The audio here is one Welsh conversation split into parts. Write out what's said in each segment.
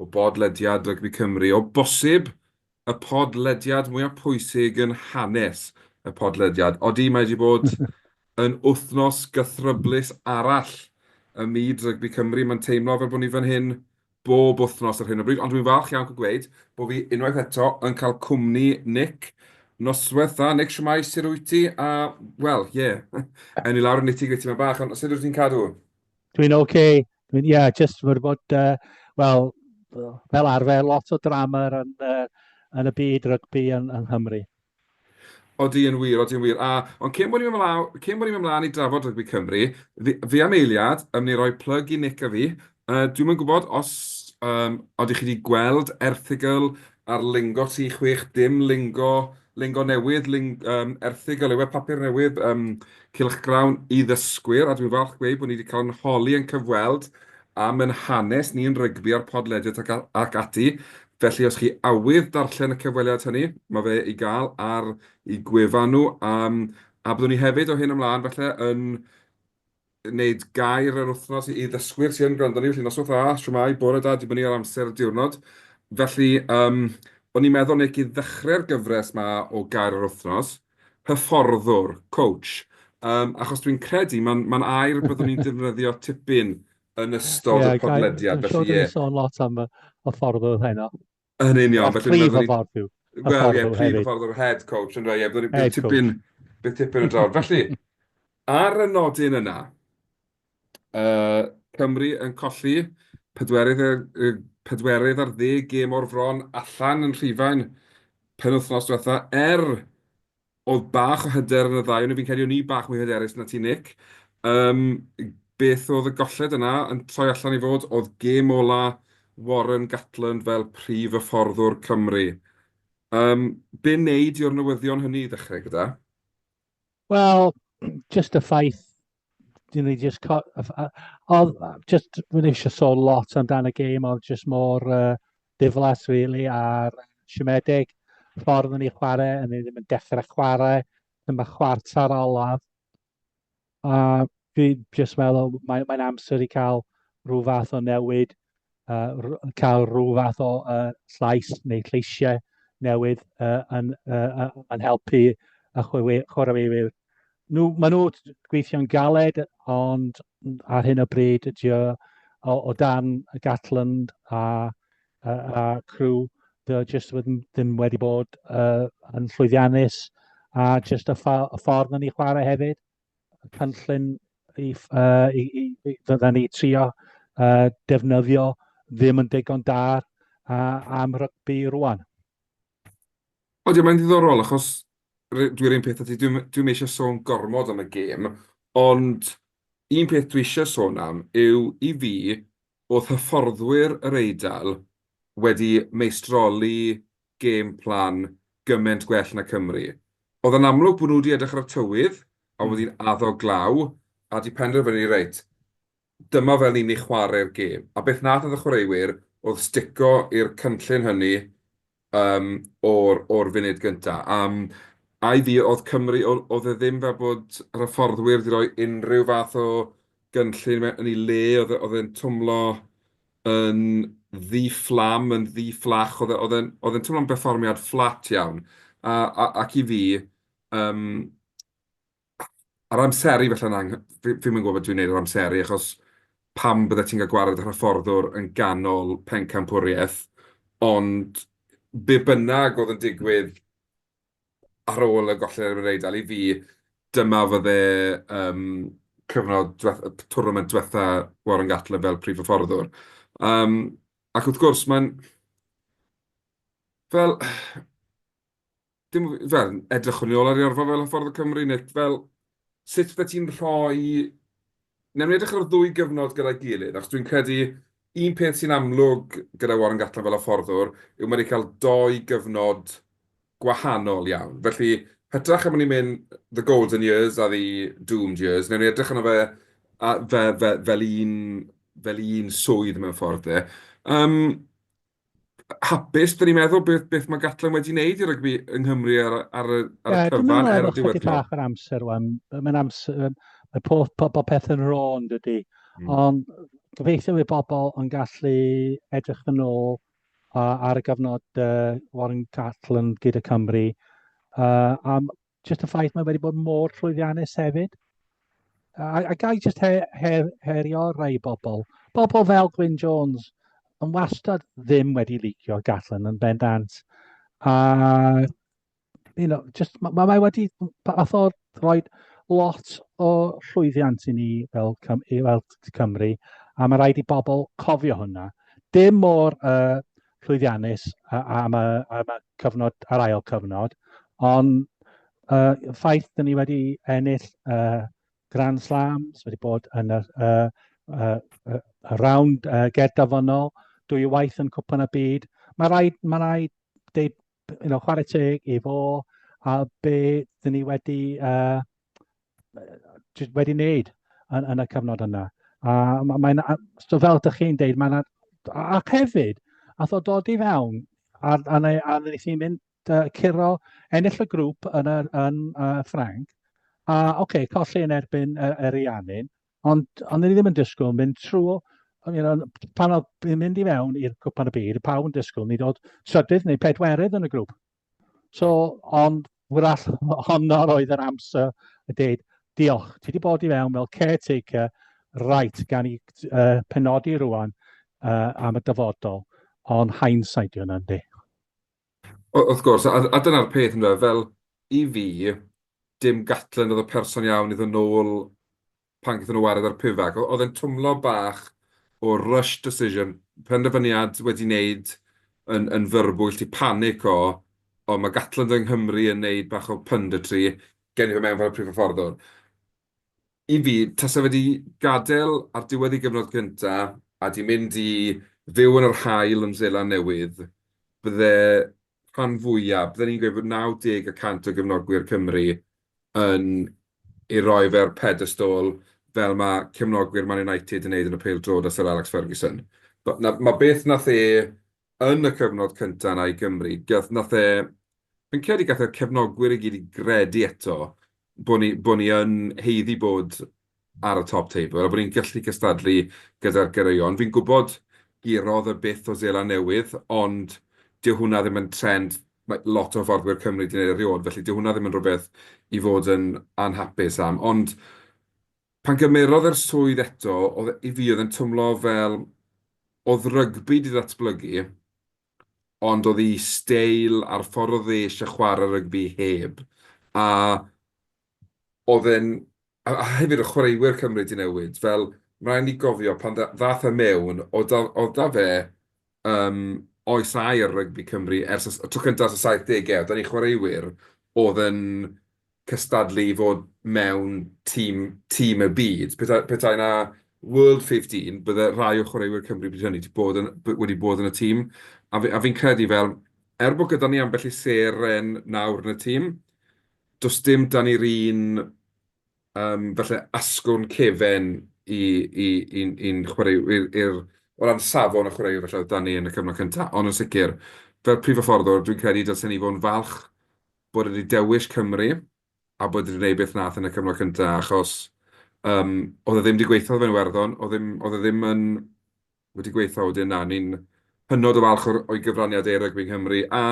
O bodlediad rygbi Cymru, o bosib y podlediad mwya pwysig yn hanes y podlediad. Odi, mae wedi bod yn wythnos gythryblus arall ym myd rygbi Cymru. Mae'n teimlo fel bod ni fan hyn bob wythnos ar hyn o bryd, ond dwi'n falch iawn cael gweud bod fi unwaith eto yn cael cwmni Nick. Noswaith dda, Nick, shwmae, sut wyt ti? A, wel, ie, ewn ni lawr y nitty-gritty 'ma bach, ond sut wyt ti'n cadw? Dwi'n ok. Dwi'n, ie, yeah, jyst wedi bod, uh, wel, fel arfer, lot o drama yn, uh, yn y byd rygbi yn, yn Nghymru. Odi yn wir, odi yn wir. A, ond cyn bod ni'n ymlaen, cyn bod ni'n ymlaen i drafod rygbi Cymru, fi, fi am eiliad yn mynd i roi plug i Nick a fi. Uh, dwi'n mynd gwybod os um, oeddech chi wedi gweld erthigol Ar lingo tri chwech dim lingo, lingo newydd, ling, um, erthygl yw e, papur newydd, um, cylchgrawn i ddysgwyr, a dwi'n falch gweud bod ni wedi cael yn holi yn cyfweld am yn hanes ni yn rygbi a'r podlediad ac, ac ati. Felly os chi awydd darllen y cyfweliad hynny, mae fe i gael ar i gwefan nhw, um, a byddwn ni hefyd o hyn ymlaen felly yn wneud gair yr wythnos i ddysgwyr sy yn gwrando arni, felly noswaith dda, shwmae, bore da, dibynnu ar amser y diwrnod. Felly, um, o'n i'n meddwl neu i ddechrau'r gyfres ma o gair yr wythnos, hyfforddwr, coach, um, achos dwi'n credu mae'n ma air byddwn ni'n defnyddio tipyn yn ystod yeah, y podlediad. Dwi'n siŵr dwi'n sôn lot am y ffordd oedd heno. Yn union. A chwi fy ffordd yw. Wel, ie, chwi fy ffordd o'r head coach, yn rhaid, ie, byddwn ni'n tipyn, bydd tipyn yn drawr. Felly, ar y nodyn yna, uh, Cymru yn colli pedwerydd, uh, pedwerydd ar ddeg gêm o'r fron allan yn rhifau'n penwthnos diwetha, er Oedd bach o hyder yn y ddau o nhw, fi'n credu o'n i bach mwy hyderus na ti Nick. Um, beth oedd y golled yna yn troi allan i fod? Oedd gêm ola Warren Gatland fel prif y fforddwr Cymru. Um, be wneud yw'r newyddion hynny i ddechrau gyda? Wel, just y ffaith dyn ni just co- a- a- odd a- just rwy'n eisiau sôn lot amdan y gêm oedd just mor uh, diflas really a'r siomedig ffordd o'n i chwarae a ni ddim yn dechrau chwarae dyma chwarter olaf a fi just meddwl mae'n mae amser i cael rhyw fath o newid cael rhyw fath o llais neu lleisiau newydd yn helpu y chwaraewyr. Maen nhw'n gweithio'n galed ond ar hyn o bryd ydy o o dan Gatland a crew dydy o jyst ddim wedi bod yn llwyddiannus a jyst y ffordd maen nhw'n chwarae hefyd. y cynllun i, uh, i, i, i fydda ni trio uh, defnyddio ddim yn digon da uh, am rygbi rwan. O, diolch, mae'n ddiddorol, achos dwi'n ein peth ati, dwi'n dwi eisiau sôn gormod am y gêm, ond un peth dwi eisiau sôn am yw i fi, oedd hyfforddwyr yr Eidal wedi meistroli game plan gyment gwell na Cymru. Oedd o'n amlwg bod nhw wedi edrych ar y tywydd a oedd hi'n addo glaw a 'di penderfynu reit, dyma fel ni'n ei chwarae'r gêm. A beth nath y chwaraewyr oedd stico i'r cynllun hynny yym o'r o'r funud gynta. A yym a i fi oedd Cymru o- oedd e ddim fel bod yr hyfforddwyr wedi rhoi unrhyw fath o gynllun mewn yn ei le oedd e oedd e'n twmlo yn ddi-fflam, yn ddi-fflach, oedd e, oedd e'n, oedd e'n teimlo'n berfformiad fflat iawn. A, a, ac i fi, um, ar amseru felly'n ang... fi ddim yn gwybod beth dwi'n gwneud ar amseru, achos pam bydde ti'n cael gwared ar hyfforddwr yn ganol pencampwriaeth, ond be bynnag oedd yn digwydd ar ôl y gollen erbyn yr Eidal, i fi, dyma fydde yym cyfnod dweth- y twrnament dwetha Warren Gatland fel prif hyfforddwr. Yym ac wrth gwrs mae'n fel dim fel edrychwn ni ôl ar ei orfa fel hyfforddwr Cymru Nick fel sut fy ti'n rhoi... Newn ni edrych ar y ddwy gyfnod gyda'i gilydd, achos dwi'n credu un peth sy'n amlwg gyda Warren Gatland fel hyfforddwr yw mae 'di cael dou gyfnod gwahanol iawn. Felly, hytrach am ni'n mynd the golden years a the doomed years, newn ni edrych arno fe a fe fe fel un fel un swydd mewn ffordd de. Yym. hapus, dyn ni'n meddwl beth, beth mae Gatlin wedi wneud i rygbi yng Nghymru ar, ar, y, ar y cyfan er y diwedd. Dwi'n meddwl amser rwan. Mae'n amser, mae pob, pob, pob peth yn rôn dydy. Mm. Ond gobeithio i bobl yn gallu edrych yn ôl uh, ar y gyfnod uh, Warren Gatlin gyda Cymru. Uh, a just y ffaith mae wedi bod mor llwyddiannus hefyd. A, a gai just her, her, herio rai bobl. Bobl fel Gwyn Jones yn wastad ddim wedi licio Gatlin yn bendant. A, you know, just, mae ma, ma wedi fath o roi lot o llwyddiant i ni fel, fel Cymru, a mae rhaid i bobl cofio hwnna. Dim mor uh, llwyddiannus am y cyfnod, a'r ail cyfnod, ond y ffaith dyn ni wedi ennill Grand Slams, wedi bod yn y rownd gert dafynnol, dwy waith yn Cwpan y Byd, mae rhaid, mae rhaid deud, you know, chwarae teg i fo a be dyn ni wedi jyst wedi wneud yn, yn y cyfnod yna. A mae'n, so fel ydych chi'n deud, mae'n, ac hefyd, a tho dod i fewn, a, a, a, a nes i mynd uh, curo ennill y grŵp yn, yr, yn uh, Ffranc, a oce, okay, colli yn erbyn yr, yr Ianin, ond, ond ni ddim yn disgwyl mynd trwy you know, pan oedd yn mynd i fewn i'r gwpan y byd, y pawb yn disgwyl ni dod trydydd neu pedwerydd yn y grŵp. So, ond wrach honno roedd yr amser y dweud, diolch, ti wedi bod i fewn fel caretaker, right, gan i uh, penodi rwan uh, am y dyfodol, ond hindsight yw hwnna'n di. Wrth gwrs, a, a dyna'r peth ynddo, fel i fi, dim gatlen oedd y person iawn iddyn nhw'n ôl pan gaethon nhw wared ar Pivac, oedd e'n twmlo bach o rush decision, penderfyniad wedi wneud yn yn fyrbwyll, ti panic o o ma' Gatland yng Nghymru yn wneud bach o punditry, gewn ni fe mewn fel y prif hyfforddwr. I fi, tase fe 'di gadael ar diwedd ei gyfnod cynta a 'di mynd i fyw yn yr haul yn Seland Newydd, bydde rhan fwya, bydden i'n gweud bod 90 y cant o gefnogwyr Cymru yn ei roi fe ar pedestôl fel ma' cefnogwyr Man United yn neud yn y pêl-drod a Syr Alex Ferguson. T'bo' 'na ma' beth nath e yn y cyfnod cynta 'na i Gymru gath nath e fi'n credu gath e'r cefnogwyr i gyd i gredu eto bo' ni bo' ni yn haeddu bod ar y top teibl a bod ni'n gallu cystadlu gyda'r goreuon. Fi'n gwybod gurodd y byth o Seland Newydd, ond dyw hwnna ddim yn trend mae lot o hyfforddwyr Cymru 'di neud erioed, felly dyw hwnna ddim yn rhywbeth i fod yn anhapus am. Ond pan gymerodd e'r swydd eto, oedd e... i fi oedd e'n twmlo fel oedd rygbi 'di ddatblygu, ond oedd 'i steil a'r ffordd oedd e isie chware rygbi heb. A oedd e'n... a hefyd oedd chwaraewyr Cymru 'di newid, fel rhaid ni gofio pan ddaeth e mewn, oedd 'da fe yym oes aur rygbi Cymru ers y tro cyntaf ers y saithdegau, oedd 'da ni chwaraewyr oedd yn cystadlu i fod mewn tîm tîm y byd, petai 'na World 15 bydde rhai o chwaraewyr Cymru bryd hynny 'di bod yn... wedi bod yn y tîm, a fi'n credu fel, er bod gyda ni ambell i seren nawr yn y tîm, Does dim 'da ni'r un yym falle asgwrn cefen i'n chwaraewyr o ran safon y chwaraewyr falle oedd 'da ni yn y cyfnod cynta. Ond yn sicr, fel prif hyfforddwr, dwi'n credu dylsen ni fod yn falch bod e 'di dewis Cymru a bod e 'di gwneud beth wnaeth yn y cyfnod cynta, achos yym oedd e ddim 'di gweithio ar Iwerddon, oedd ddim oedd e ddim yn... wedi gweithio wedyn na, ni'n hynod o falch o'r o'i gyfraniad e i rygbi Nghymru a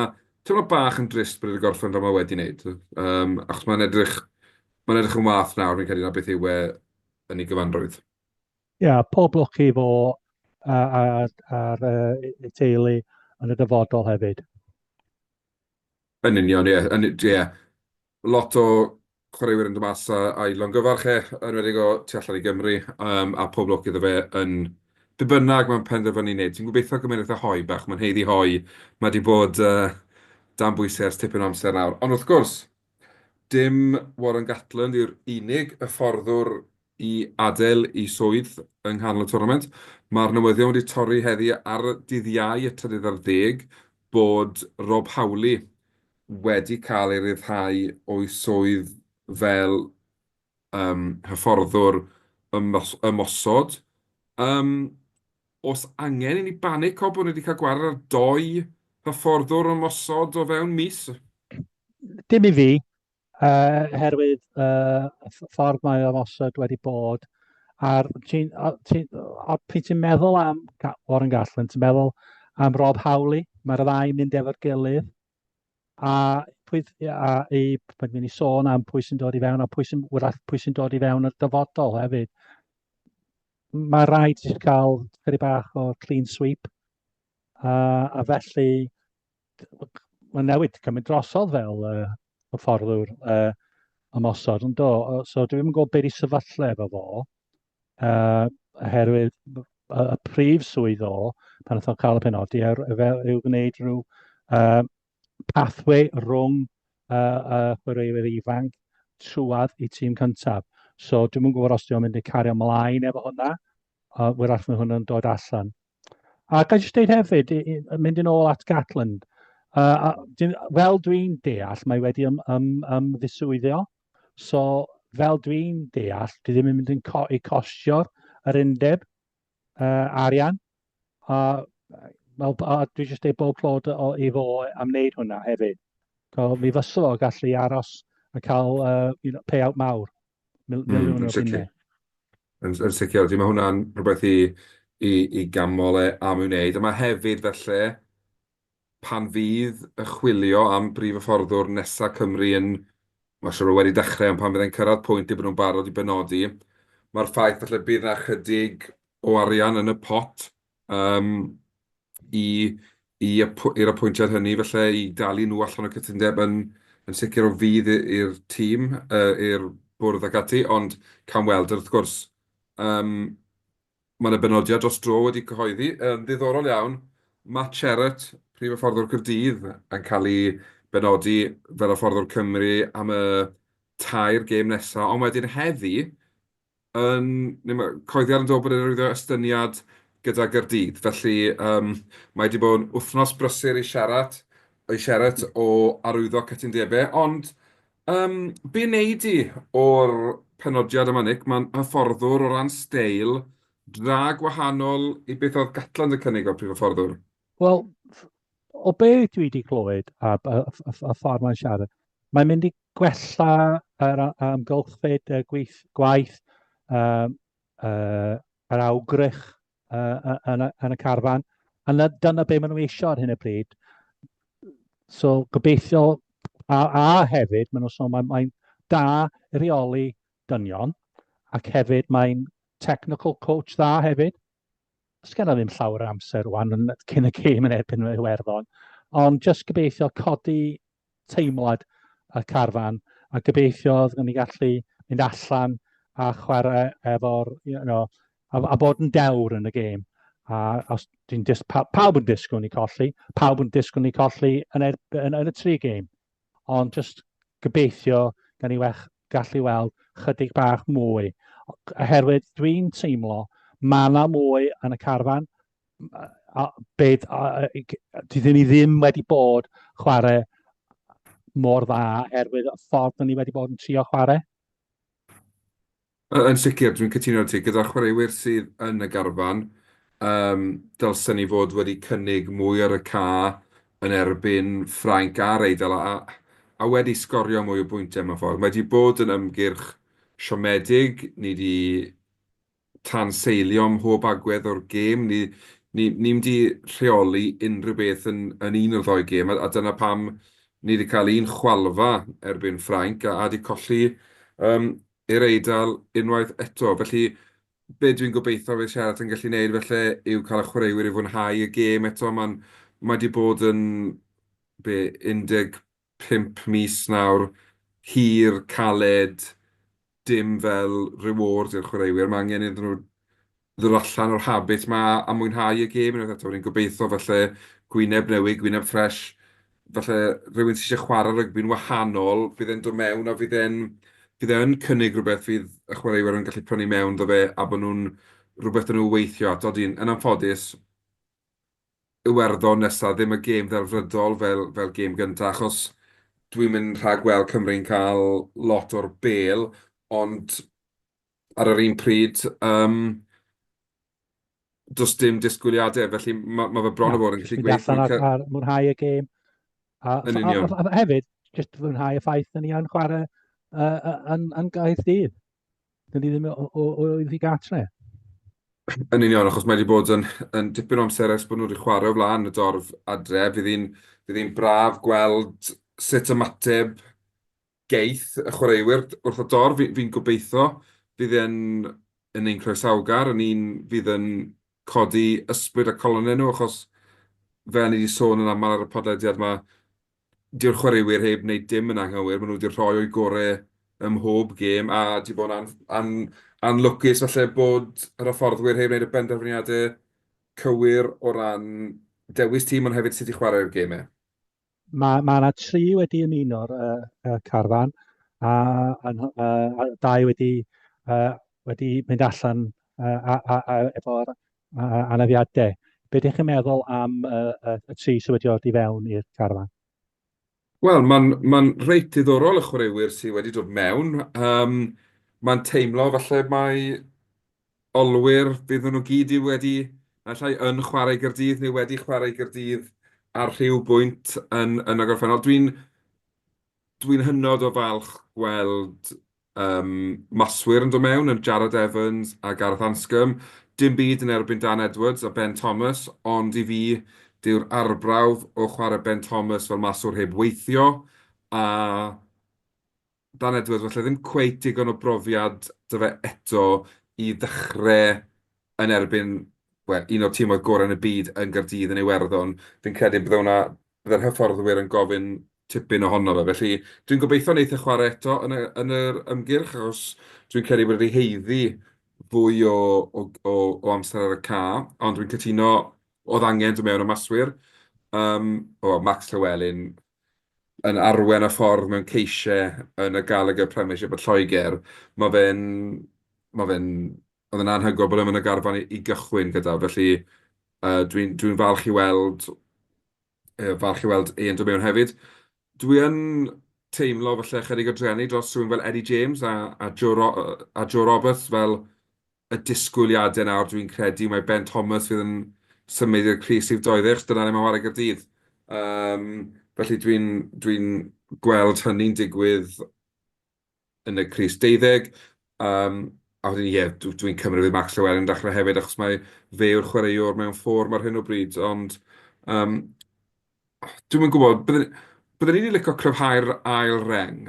teimlo bach yn drist bod e 'di gorffen fel mae wedi wneud yym achos mae'n edrych mae'n edrych yn wath nawr fi'n credu na beth yw e yn ei gyfanrwydd. Ie, yeah, pob lwc i fo a'r uh, uh, teulu yn y dyfodol hefyd. Yn union, ie. Yn u-... ie. Lot o chwaraewyr yn dod mas a a'i longyfarch e, yn enwedig o tu allan i Gymru, yym, a pob lwc iddo fe yn be bynnag mae'n penderfynu ei wneud. Ti'n gobeithio cymuned fatha Hoe bach, mae'n haeddu Hoe, mae 'di bod yy dan bwysau ers tipyn o amser nawr. Ond wrth gwrs, dim Warren Gatland yw'r unig hyfforddwr i adael ei swydd yng nghanol y twrnament. Mae'r newyddion wedi torri heddi ar dydd Iau y trydydd ar ddeg bod Rob Howley wedi cael ei ryddhau o'i swydd fel yym hyfforddwr ymosod. Yym oes angen i ni banico bod ni wedi cael gwared ar dou hyfforddwr ymosod o fewn mis? Dim i fi. Yy herwydd yy ff- ffordd mae o'n osod wedi bod a'r ti'n o- ti'n o- pryd ti'n meddwl am Ga- Warren Gatland, ti'n meddwl am Rob Howley, mae'r ddau yn mynd efo'r gilydd a pwy th- a i pan dwi'n ni sôn am pwy sy'n dod i fewn a pwy sy'n wrach pwy sy'n dod i fewn o'r dyfodol hefyd. Mae rhaid i chi cael chydig bach o clean sweep a, a felly mae'n newid cymryd drosodd fel uh, hyfforddwr uh, ymosod yn do. So dwi ddim yn gwybod beth i sefyllfa efo fo, uh, oherwydd y, y prif swydd o pan ydw cael y penodi er, fel yw gwneud rhyw uh, pathway rhwng uh, uh, chwaraewyr ifanc trwad i tîm cyntaf. So dwi'n mwyn gwybod os dwi'n mynd i cario ymlaen efo hwnna, uh, wyrach mae hwnna'n dod allan. A gael jyst dweud hefyd, mynd yn ôl at Gatland, uh, fel dwi'n deall, mae wedi ym, ym, ymddiswyddio, so fel dwi'n deall, dwi ddim yn mynd yn co i cosio'r yr undeb uh, arian. A, a, a dwi jyst ei bob clod o, i fo am wneud hwnna hefyd. So, mi fysol o gallu aros a cael uh, you know, payout mawr. Mil- Mm, miliwn yn o sicr. bunnau. Yn, yn sicr, felly mae hwnna'n rhywbeth i, i, i ganmol e am ei wneud. A mae hefyd felly, pan fydd y chwilio am brif hyfforddwr nesa Cymru yn, mae'n siŵr o wedi dechrau, ond pan fydd e'n cyrraedd pwynt i bod nhw'n barod i benodi, mae'r ffaith felly bydd yna chydig o arian yn y pot yym i i apw- i'r apwyntiad hynny falle i dalu nhw allan o cytundeb yn yn sicr o fudd i- i'r tîm yy i'r bwrdd ac ati ond cawn weld wrth gwrs yym ma' 'na benodiad dros dro wedi cyhoeddi yn ddiddorol iawn Matt Sherratt prif hyfforddwr Caerdydd yn cael ei benodi fel hyfforddwr Cymru am y tair gêm nesa ond wedyn heddi yn... neu mae coeddiad yn dod bod e'n rhywddo estyniad gyda Gaerdydd. Felly yym mae wedi bod yn wythnos brysur i siarad i siarad o arwyddo cytundebau ond yym be wnei di o'r penodiad yma Nick? Mae'n hyfforddwr o ran steil, dra gwahanol i beth oedd Gatland yn cynnig o'r prif hyfforddwr. Wel, o be dwi 'di clywed a b- y y y ffordd mae'n siarad, mae'n mynd i gwella yr a- amgylchfyd y gweith- gwaith yym yy yr awgrych yy yy yn y yn y carfan a 'na dyna be maen nhw eisiau ar hyn o bryd. So gobeithio a a hefyd maen nhw'n sôn mai mae'n da i reoli dynion ac hefyd mae'n technical coach dda hefyd. Does genna ddim llawer o amser rwan yn cyn y gêm yn erbyn y Iwerddon, ond jyst gobeithio codi teimlad y carfan a gobeithio fydden ni gallu mynd allan a chwarae efo'r, you know, a, a bod yn dewr yn y gêm. A os dwi'n dis, pa, pawb yn disgwyl ni colli, pawb yn disgwyl ni colli yn, er, yn, yn y tri gêm. ond jyst gobeithio gan ni wech gallu weld chydig bach mwy, oherwydd dwi'n teimlo mae yna mwy yn y carfan, a, bed, a, dydyn ni ddim wedi bod chwarae mor dda oherwydd y ffordd ni wedi bod yn trio chwarae. Yy yn sicr, dwi'n cytuno 'da ti. Gyda'r chwaraewyr sydd yn y garfan, yym, dylsen ni fod wedi cynnig mwy ar y ca yn erbyn Ffrainc a'r Eidal a a wedi sgorio mwy o bwyntiau mewn ffordd. Mae 'di bod yn ymgyrch siomedig, ni 'di tanseilio mhob agwedd o'r gêm, ni ni ni'm 'di rheoli unrhyw beth yn yn un o'r ddou gêm a a dyna pam ni 'di cael un chwalfa erbyn Ffrainc a a 'di colli yym i'r Eidal unwaith eto. Felly, be dwi'n gobeithio fydd Sheraton yn gallu wneud falle yw cael y chwaraewyr i fwynhau y gêm eto. Mae'n... mae wedi bod yn, be, 15 mis nawr, hir, caled, dim fel reward i'r chwaraewyr. Mae angen iddyn nhw ddod allan o'r habit 'ma a mwynhau y gêm unwaith eto. Rwy'n gobeithio falle gwyneb newydd, gwyneb ffres, falle rhywun sy isie chware rygbi'n wahanol, bydd e'n dod mewn a fydd e'n... bydd e yn cynnig rhywbeth fydd y chwaraewyr yn gallu prynu mewn 'da fe a bod nhw'n rhywbeth 'da nhw weithio ato. Dyn, yn anffodus, Iwerddon nesa, ddim y gêm ddelfrydol fel fel gêm gynta, achos dwi'm yn rhagweld Cymru'n cael lot o'r bel, ond ar yr un pryd, yym, does dim disgwyliadau, felly mae ma fe bron o fod yn gallu gweithio. Allan ar, ar mwynhau y gêm. A, yn union. A, a, a, hefyd, jyst mwynhau y ffaith yn ni yn chwarae uh, yn, yn gaeth dydd. Dyn ni ddim o, o, o, o i gatre. Yn union, achos mae wedi bod yn, yn dipyn o amser ers bod nhw wedi chwarae o flaen y dorf adre. Fydd hi'n braf gweld sut ymateb geith y chwaraewyr wrth y dorf, fi'n gobeitho, fydd e'n yn ein croesawgar, yn un fydd yn codi ysbryd a calonnau nhw, achos fel ni 'di sôn yn aml ar y podlediad 'ma, dyw'r chwaraewyr heb wneud dim yn anghywir, maen nhw 'di rhoi o'u gorau ym mhob gêm, a 'di bod yn anlwcus falle bod yr hyfforddwyr heb wneud y penderfyniadau cywir o ran dewis tîm, ond hefyd sut i chwarae'r gemau. Ma' ma' 'na tri wedi ymuno'r yy y carfan a a nhw yy a dau wedi yy wedi mynd allan yy a a a efo'r a- a- anafiadau. Be dach chi'n meddwl am yy y y tri sy wedi dod i fewn i'r carfan? Wel, mae'n mae'n reit ddiddorol y chwaraewyr sy wedi dod mewn. Yym, mae'n teimlo falle mai olwyr, bydden nhw gyd i wedi, naill ai yn chwarae i Gaerdydd neu wedi chwarae i Gaerdydd ar rhyw bwynt yn yn y gorffennol. Dwi'n dwi'n hynod o falch gweld yym maswyr yn dod mewn yn Jarrod Evans a Gareth Anscombe. Dim byd yn erbyn Dan Edwards a Ben Thomas, ond i fi dyw'r arbrawf o chwarae Ben Thomas fel maswr heb weithio a Dan Edwards, falle ddim cweit digon o brofiad 'da fe eto i ddechrau yn erbyn, wel, un o'r tîmoedd gorau yn y byd yn Gaerdydd yn Iwerddon. Fi'n credu bydde hwnna... bydde'r hyfforddwyr yn gofyn tipyn ohono fe. Felly, dwi'n gobeithio wneith e chwarae eto yn y, yn yr ymgyrch, achos dwi'n credu bod e wedi haeddu fwy o, o, o, o amser ar y ca, ond dwi'n cytuno, oedd angen dod mewn o maswyr. Yym, o, Max Llewelyn, yn arwain y ffordd mewn ceisiau yn y Gallagher Premiership yn Lloegr. Mae fe'n... mae fe'n... oedd e'n anhygoel bod e ddim yn y garfan i gychwyn gyda, felly dwi'n dwi'n falch i weld... falch i weld e yn dod mewn hefyd. Dwi yn teimlo falle ychydig o drueni dros rhywun fel Eddie James a Joe Roberts fel y disgwyliadau nawr, dwi'n credu, mae Ben Thomas fydd yn symud i'r crys rhif 12, achos dyna le mae'n chwarae Gaerdydd. Um, felly dwi'n dwi gweld hynny'n digwydd yn y crys 12. Um, a wedyn, ie, yeah, dwi'n dwi cymryd fydd Max Llewellyn yn dechrau hefyd, achos mae fe yw'r chwaraewr mewn ffôr mae'r hyn o bryd. Ond um, Dwi'm yn gwybod. Byddwn... byddwn i 'di licio cryfhau'r ail reng.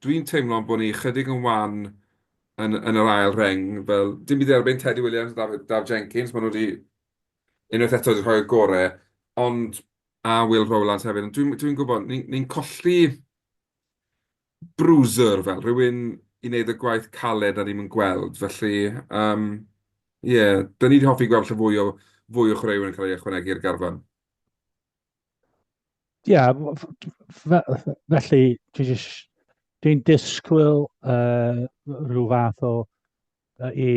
Dwi'n teimlo bod ni ychydig yn wan yn yn yr ail reng. Fel, dim byd i dderbyn Tedi Williams a Dafydd Daf Jenkins, maen nhw 'di unwaith eto 'di rhoi'r gorau, ond a Will Rowlands hefyd, ond dwi'm dwi'n gwybod, ni'n ni'n colli bruiser fel, rhywun i wneud y gwaith caled 'na ni'm yn gweld, felly yym ie, 'da ni 'di hoffi gweld lle fwy o fwy o chwaraewyr yn cael eu ychwanegu i'r garfan. Ie, f- f- fe- felly dwi jyst... dwi'n disgwyl yy ryw fath o yy i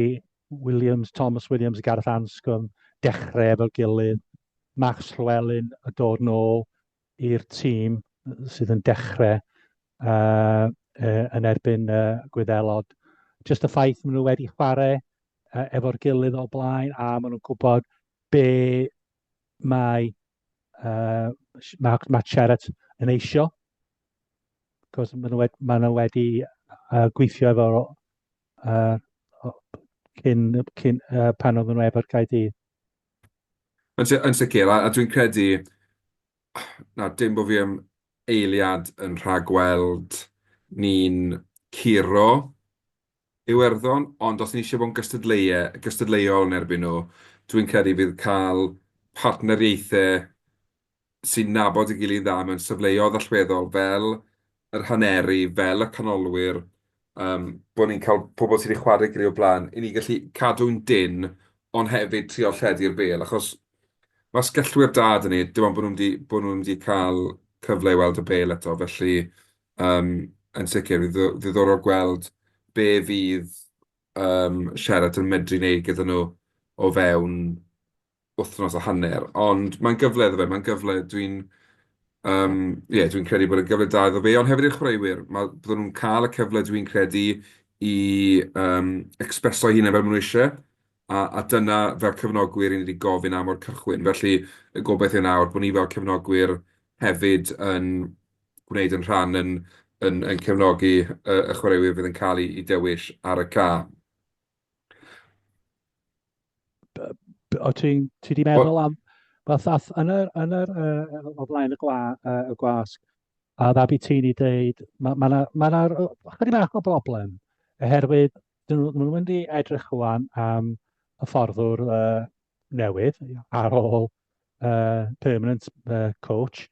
Williams, Thomas Williams a Gareth Anscombe dechrau efo'i gilydd, Max Llewelyn yn dod nôl i'r tîm sydd yn dechrau yy yy yn erbyn yy Gwyddelod. Jyst y ffaith maen nhw wedi chwarae yy efo'r gilydd o blaen a maen nhw'n gwybod be Mae, uh, mae, mae Charat yn eisio, cos maen nhw wedi, maen nhw wedi uh, gweithio efo uh, cyn, cyn uh, pan oedden nhw efo'r Caerdydd. Yn, sy yn sicr, a, a dwi'n credu, na, dim bod fi am eiliad yn rhagweld ni'n curo Iwerddon, ond os ni isie bod yn gystadleuo... gystadleuol yn erbyn nhw, dwi'n credu fydd cael partneriaethau sy'n nabod ei gilydd yn dda mewn safleoedd allweddol fel yr haneri, fel y canolwyr, yym bod ni'n cael pobl sy' 'di chwarae'i gilydd o'r blaen, i ni gallu cadw'n dynn ond hefyd trio lledu'r bêl, achos mae sgellwyr da 'da ni, dim ond bod nhw'm 'di... bod nhw'm 'di cael cyfle i weld y bêl eto, felly Yym yn sicr, fydd o'n ddiddorol gweld be fydd yym Sheraton yn medru wneud gyda nhw o fewn wythnos a hanner. Ond mae'n gyfle iddo fe, mae'n gyfle dwi'n yym ie dwi'n credu bod e'n gyfle da iddo fe, ond hefyd i'r chwaraewyr. Ma'... byddan nhw'n cael y cyfle dwi'n credu i yym ecspreso eu hunain fel maen nhw isie, a a dyna fel cyfnogwyr 'y ni 'di gofyn am o'r cychwyn. Felly y gobaith yw nawr bod ni fel cyfnogwyr hefyd yn gwneud ein rhan yn cefnogi y chwaraewyr fydd yn cael eu dewis ar y ca. O, ti wedi meddwl am... Fatha, yn yr... yn yr... o flaen y gwa... y gwasg, a dda byd ti'n ei dweud, mae yna... mae yna... chydig bach o broblem, oherwydd, dyn nhw... maen nhw'n mynd i edrych rwan am hyfforddwr newydd ar ôl uh, permanent uh, coach,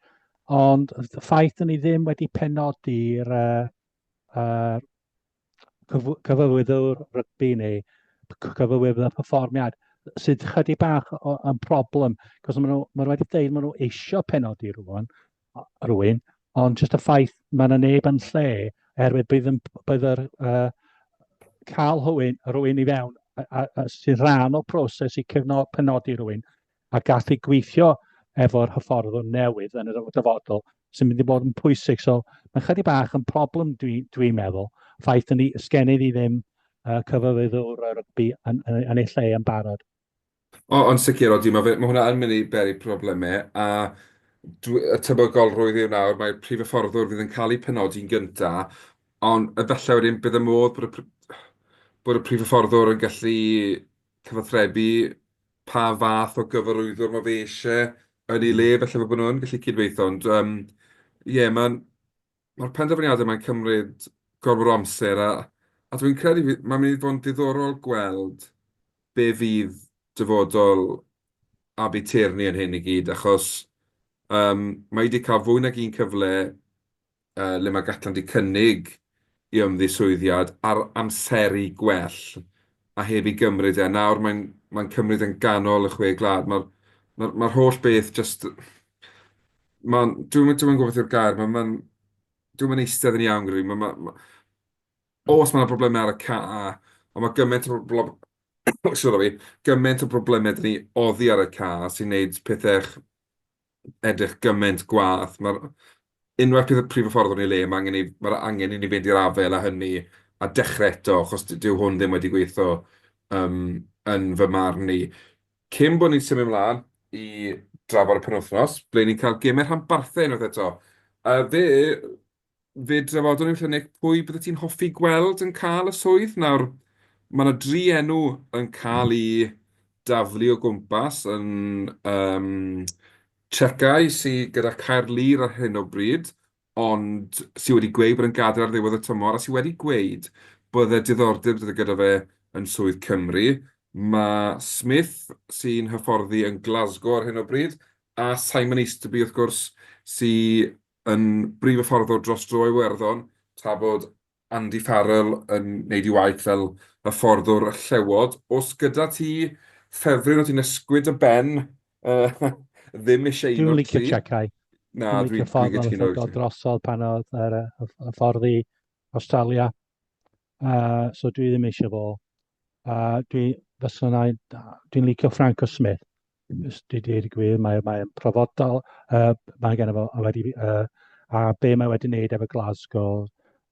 ond y ffaith ni ddim wedi penodi'r uh, uh, cyfywyddo'r rygbi neu cyfywyddo'r y perfformiad sydd chydig bach yn problem, cos maen nhw, maen nhw wedi dweud maen nhw eisiau penodi rwan, rwy'n, ond jyst y ffaith mae yna neb yn lle oherwydd bydd yn bydd yr uh, cael hywyn rwy'n i fewn a, a, a sy'n rhan o proses i cefno, penodi rwy'n a gallu gweithio efo'r hyfforddwr newydd yn y dyfodol sy'n mynd i bod yn pwysig. So mae'n chydig bach yn problem dwi'n dwi, dwi meddwl, ffaith yn ni, sgennydd i ddim uh, cyfyfyddwr rygbi yn, yn, yn ei lle yn barod. O, yn sicr, odi. Mae fe... mae hwnna yn mynd i beri problemau. A dwi... y tebygolrwydd yw nawr, mae'r prif hyfforddwr fydd yn cael eu penodi'n gyntaf, ond efallai wedyn bydd y modd bod y pr- bod y prif hyfforddwr yn gallu cyfathrebu pa fath o gyfarwyddwr mae fe isie yn ei le, falle fel bod nhw'n gallu cydweithio. Ond yym, ie, mae'n... Mae'r penderfyniadau mae'n cymryd gormod o amser a a dwi'n credu fydd mae'n mynd i fod yn diddorol gweld be fydd dyfodol Abi Tierney yn hyn i gyd achos um, mae wedi cael fwy nag un cyfle uh, le mae Gatland wedi cynnig i ymddiswyddiad ar amseru gwell a heb ei gymryd e. Nawr mae'n mae'n cymryd e'n ganol y chwe gwlad. Mae'r mae'r mae'r holl beth jyst... Mae'n... Dwi'm yn dwi'm yn gwybod beth yw'r gair. Mae'n mae'n... Dwi'm yn eistedd yn iawn gyda fi. Mae mae ma'... Oes mae 'na broblemau ar y ca, ond mae gymaint o bro- blo- sori, gymaint o broblemau 'da ni oddi ar y ca sy'n wneud pethau ch- edrych gymaint gwaeth. Mae'r... unwaith bydd y prif hyfforddwr yn ei le, mae angen i... mae'r angen i ni fynd i'r afael â hynny a dechrau eto, achos dyw hwn ddim wedi gweithio, yym, yn fy marn i. Cyn bod ni'n symud mlaen i drafod y penwythnos, ble ni'n cael gemau rhanbarthau unwaith eto. Yy, fe Fe drafodwn ni wrtha Nick pwy byddet ti'n hoffi gweld yn cael y swydd. Nawr, mae yna dri enw yn cael eu daflu o gwmpas yn yym Checkeye sy gyda Caerlŷr ar hyn o bryd, ond sy wedi gweud bod e'n gadael ar ddiwedd y tymor a sy wedi gweud bod e diddordeb gyda fe yn swydd Cymru. Mae Smith sy'n hyfforddi yn Glasgow ar hyn o bryd a Simon Easterby wrth gwrs sy Yn brif hyfforddwr dros dro Iwerddon, tra bod Andy Farrell yn neud ei waith fel hyfforddwr y Llewod. Os gyda ti ffefryn o ti'n ysgwyd dy ben ddim isie un o'r tri. Dwi'n licio Chekai. Na, dwi'n licio ffordd o'n ffwrdd drosodd pan oedd yr hyfforddi Australia. Uh, so dwi ddim eisiau fo. Uh, dwi, fysa na, dwi'n licio Frank o Smith. Dwi wedi gwir, mae'n mae profodol, uh, mae gen i fo, a, wedi, uh, a be mae wedi wneud efo Glasgow,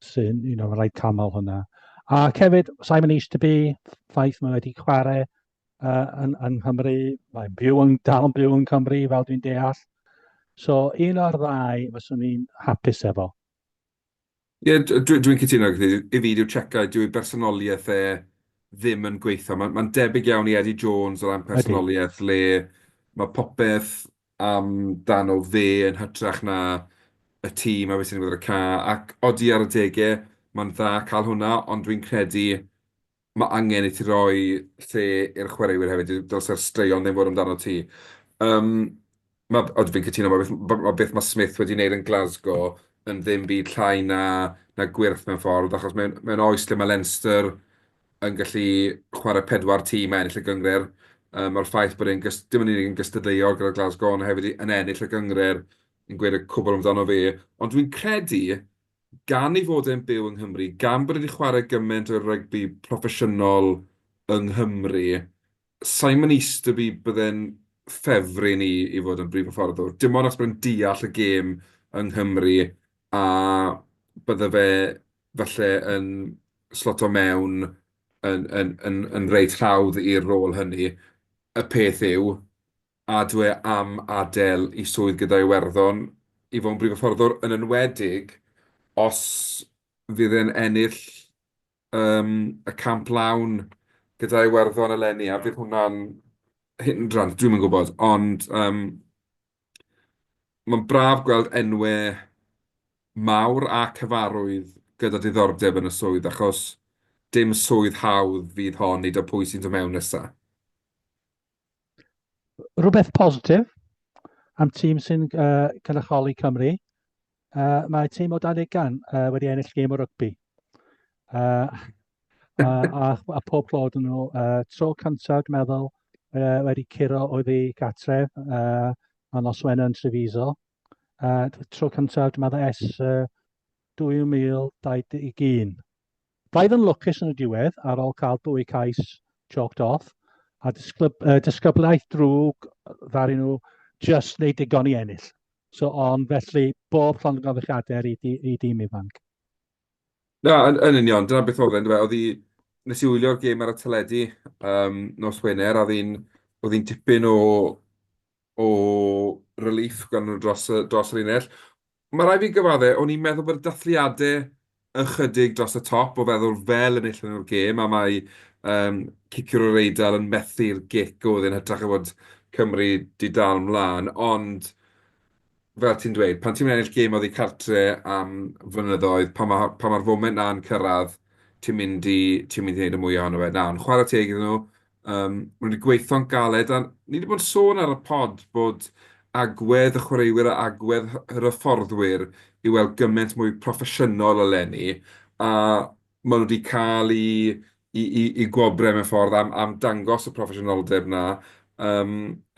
sy'n un o'r rhaid camol hwnna. A cefyd, Simon East to be, ffaith mae wedi chwarae uh, yn, yn Nghymru, mae'n byw yn, dal yn byw yn Cymru fel dwi'n deall. So un o'r ddau fyswn i'n hapus efo. Ie, dwi'n cytuno gyda ti. I fi, dyw Cheika, dyw ei bersonoliaeth e ddim yn gweithio. Mae'n debyg iawn i Eddie Jones o ran personoliaeth, le mae popeth amdano fe yn hytrach na y tîm a be sy'n digwydd ar y cae. Ac odi, ar adegau, mae'n dda cael hwnna, ond dwi'n credu Mae angen i ti roi lle i'r chwaraewyr hefyd, dylse'r straeon ddim fod amdano ti. Yym, ma'... Ond fi'n cytuno, ma' beth ma' beth ma' Smith wedi wneud yn Glasgow yn ddim byd llai na na gwyrth mewn ffordd, achos mewn mewn oes lle ma' Leinster yn gallu chwarae pedwar tîm a ennill y gynghrair, yy ma'r ffaith bod e'n gys- dim yn unig yn gystadleuol gyda Glasgow, ond hefyd yn ennill y gynghrair yn gweud y cwbl amdano fe. Ond dwi'n credu, gan ei fod e'n byw yng Nghymru, gan bod e 'di chwarae gymaint o rygbi proffesiynol yng Nghymru, sa i'n mynd eistedd i bydde'n ffefryn i i fod yn brif hyfforddwr. Dim ond achos bod e'n deall y gêm yng Nghymru a bydde fe falle yn sloto mewn yn yn yn yn reit hawdd i'r rôl hynny. Y peth yw, a dw am adael i swydd gyda Iwerddon i fod yn brif hyfforddwr, yn enwedig os fydd e'n ennill yym y camp lawn gyda Iwerddon eleni, a bydd hwnna'n hindrand, dwi'm yn gwybod, ond yym mae'n braf gweld enwau mawr a cyfarwydd gyda diddordeb yn y swydd, achos dim swydd hawdd fydd hon, nid o pwy sy'n dod mewn nesa'. Rhywbeth positif am tîm sy'n uh, cynrychioli Cymru, uh, mae tîm o dan ugain uh, wedi ennill gêm o rygbi. Uh, a, a, a pob clod yn nhw, uh, tro cyntaf, dwi'n meddwl, uh, wedi curo oedd i gatref, uh, a nos Wener yn Treviso. Uh, tro cyntaf, dwi'n meddwl, es uh, 2021. Roedd yn lwcus yn y diwedd ar ol cael dwy cais chalked off a disglyb, uh, disgyblaeth drwg ddaru nhw just wneud digon i ennill. So, ond felly, bob llond yn gofychiadau i, di, i dîm ifanc. Na, yn, yn union, dyna beth oedd e'n dweud. Oedd i, nes i wylio'r gêm ar y teledu um, nos Wener, oedd hi'n tipyn o o relief gan nhw dros y dros y linell. Mae rhaid fi gyfadde, o'n i'n meddwl bod y dathliadau ychydig dros y top o feddwl fel enillon nhw'r gêm a mae um, ciciwr yr Eidal yn methu'r gic oedd yn hytrach o fod Cymru di dal mlaen, ond fel ti'n dweud, pan ti'n mynd ennill gêm oddi cartre am flynyddoedd, pan mae'r ma, Yym maen nhw 'di gweithio'n galed a ni 'di bod yn sôn ar y pod bod agwedd y chwaraewyr a agwedd hy- yr hyfforddwyr i weld gymaint mwy proffesiynol eleni a maen nhw 'di cael eu eu eu eu gwobrau mewn ffordd am am dangos y proffesiynoldeb 'na yym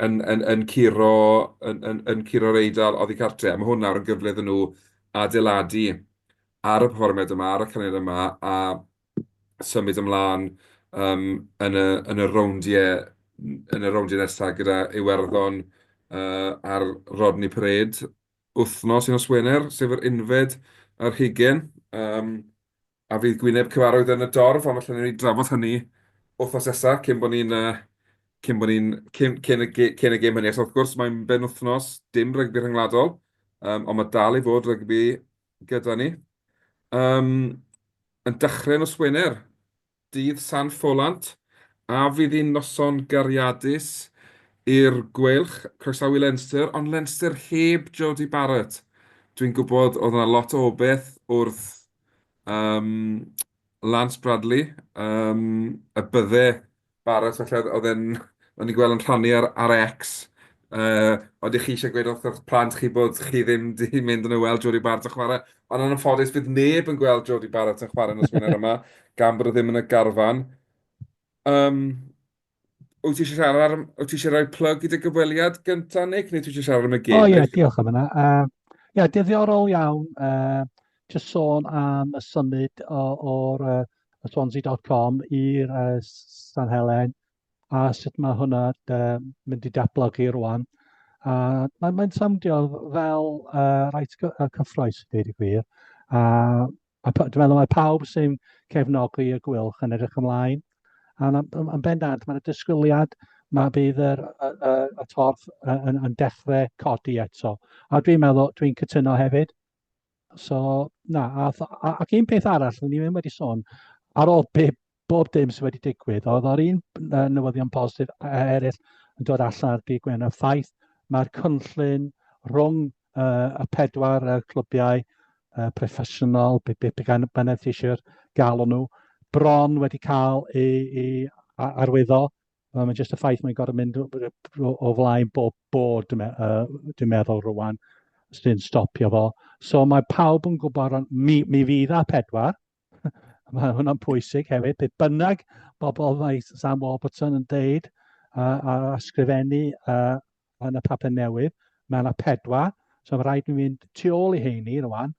yn yn yn curo yn yn yn curo'r Eidal oddi cartre', a ma' hwn nawr yn gyfle iddyn nhw adeiladu ar y perfformiad yma, ar y caneuon yma a symud ymlaen yym yn y yn y rowndiau yn y rowndiau nesaf gyda Iwerddon yy ar Rodney Parade wythnos nos Wener, sef yr unfed ar hugain yym a fydd Gwyneb Cyfarwydd yn y dorf, ond falle wnawn ni drafod hynny wythnos nesaf cyn bod ni'n yy cyn bod ni'n cyn cyn y ge- cyn y gêm hynny. Achos wrth gwrs mae'n benwythnos dim rygbi rhyngwladol yym ond ma' dal i fod rygbi gyda ni. Um, yn dechrau nos Wener, dydd San Ffolant, a fydd hi'n noson gariadus i'r Gweilch, croesawu Leinster, ond Leinster heb Jody Barrett. Dwi'n gwybod oedd yna lot o obeth wrth um, Lance Bradley, um, y bydde Barod falle, oedd e'n... o'n i'n gweld yn rhannu ar ar X, yy, odi chi eisiau gweud wrth eich plant chi bod chi ddim 'di mynd yn y weld Jodie Barrett yn chwarae, ond yn anffodus bydd neb yn gweld Jodie Barrett yn chwarae nos Wener yma, gan bod o ddim yn y garfan. Um, wyt ti eisiau siarad ar... wyt ti eisiau rhoi plug i dy gyfweliad gyntaf, Nick, neu ti eisiau siarad am y gêm? O ie, diolch am yna. Uh, ie, diddiorol iawn. Uh, just sôn am y symud o'r uh, swansea.com i'r uh, San Helen a sut mae hwnna uh, mynd i datblygu rwan. A mae'n mae samdio fel uh, rhaid cyffroes, dweud y gwir. A, a dwi'n meddwl mae pawb sy'n cefnogi y gwylch yn edrych ymlaen. A yn bendant, mae'n disgwyliad mae bydd yr, y, y, y torf yn, yn dechrau codi eto. A dwi'n meddwl, dwi'n cytuno hefyd, So, na, a, a, ac un peth arall, ni ddim wedi sôn, ar ôl be, bob dim sydd wedi digwydd, oedd o'r un newyddion positif eraill yn dod allan ar dydd Gwener, ffaith mae'r cynllun rhwng uh, y pedwar uh, clybiau uh, proffesiynol, be, be, be gan beneficiary'r galw nhw, bron wedi cael ei, ei arwyddo, Wel, mae jyst y ffaith mae'n gorfod mynd o flaen bob bod, dwi'n meddwl rwan, sy'n stopio fo. So mae pawb yn gwybod, ond mi, mi fydd a pedwar. mae hwnna'n pwysig hefyd. Beth bynnag bobl mae Sam Warburton yn deud a, a ysgrifennu a, yn y papur newydd, mae yna pedwar, so mae'n rhaid i mi fynd tu ôl i heini rwan,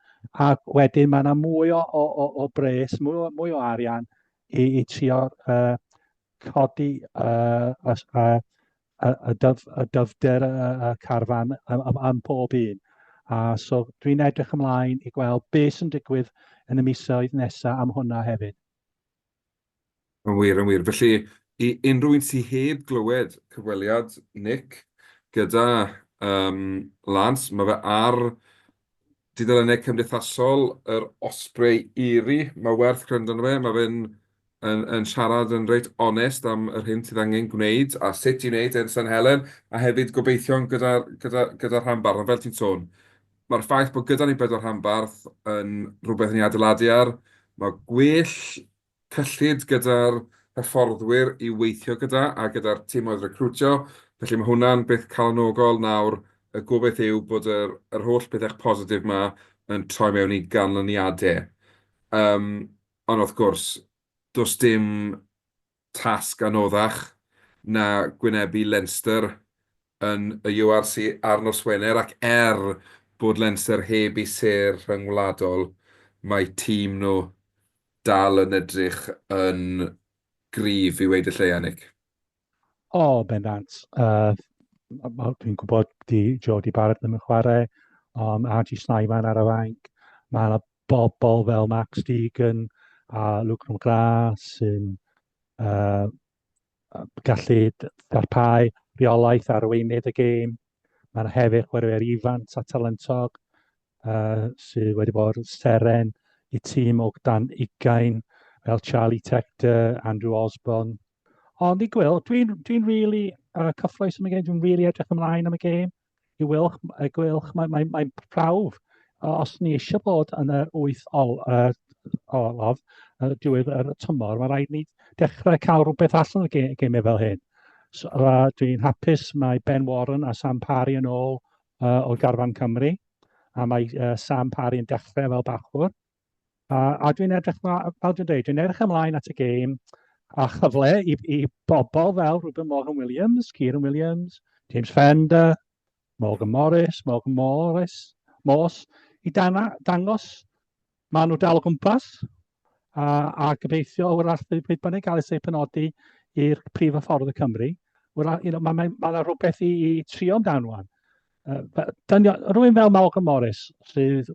a wedyn mae yna mwy o, o, o, o bres, mwy o, mwy o arian i, i trio uh, codi uh, y, uh, y, dyf, y dyfder y, y carfan am, am, am pob un. A so dwi'n edrych ymlaen i gweld beth sy'n digwydd yn y misoedd nesaf am hwnna hefyd. Yn wir, yn wir. Felly, i unrhyw un sy heb glywed cyfweliad Nick gyda um, Lance, mae fe ar dudalennau cymdeithasol yr Osprey Eiri. Mae werth gwrando arno fe, mae fe'n yn, yn siarad yn reit onest am yr hyn sydd angen gwneud a sut i wneud e'n San Helen, a hefyd gobeithio'n gyda'r gyda, gyda rhan barn, fel ti'n sôn, Mae'r ffaith bod gyda ni bedwar rhanbarth yn rhywbeth i ni adeiladu ar. Mae gwell cyllid gyda'r hyfforddwyr i'w weithio gyda a gyda'r timoedd recriwtio, felly mae hwnna'n beth calonogol nawr. Y gobaith yw bod yr yr holl bethau positif 'ma yn troi mewn i ganlyniadau. Yym, ond wrth gwrs, does dim tasg anoddach na gwynebu Leinster yn y URC ar nos Wener ac er bod Leinster heb eu sêr rhyngwladol, mae tîm nhw dal yn edrych yn gryf i weud y lleia, Nick. O, bendant. Uh, dwi'n gwybod di Jody Barrett ddim yn chwarae, um, Archie Snyman ar y fainc. Mae yna bobl fel Max Deegan a Luke McGrath sy'n uh, gallu darpau rheolaeth ar weinydd y gêm. Mae'n hefyd chwaraewyr ifant a talentog uh, sydd wedi bod seren i tîm o dan ugain fel Charlie Tector, Andrew Osborne. Ond i gweld, dwi'n dwi, n, dwi n really uh, cyffroes am y gêm, dwi'n really edrych ymlaen am y gêm. i wylch, y gwylch, mae'n mae, mae prawf os ni eisiau bod yn yr wyth ol, uh, olaf uh, diwedd yr tymor, mae rhaid ni dechrau cael rhywbeth allan o'r gem, gemau fel hyn. So, uh, Dwi'n hapus mae Ben Warren a Sam Parry yn ôl uh, o garfan Cymru, a mae uh, Sam Parry yn dechrau fel bachwr, A, a dwi'n edrych ma- fel dwi'n deud, dwi'n edrych ymlaen at y gêm a chyfle i i bobl fel Reuben Morgan Williams, Kieran Williams, James Fender, Morgan Morris, Morgan Morris, Morse, i dana, dangos maen nhw dal o gwmpas a, a gobeithio o'r alltu pryd bynnag gael ei penodi i'r prif ffordd y Cymru. Wel, you know, mae yna ma, ma rhywbeth i, i trio amdano. Uh, rwy'n fel Morgan Morris sydd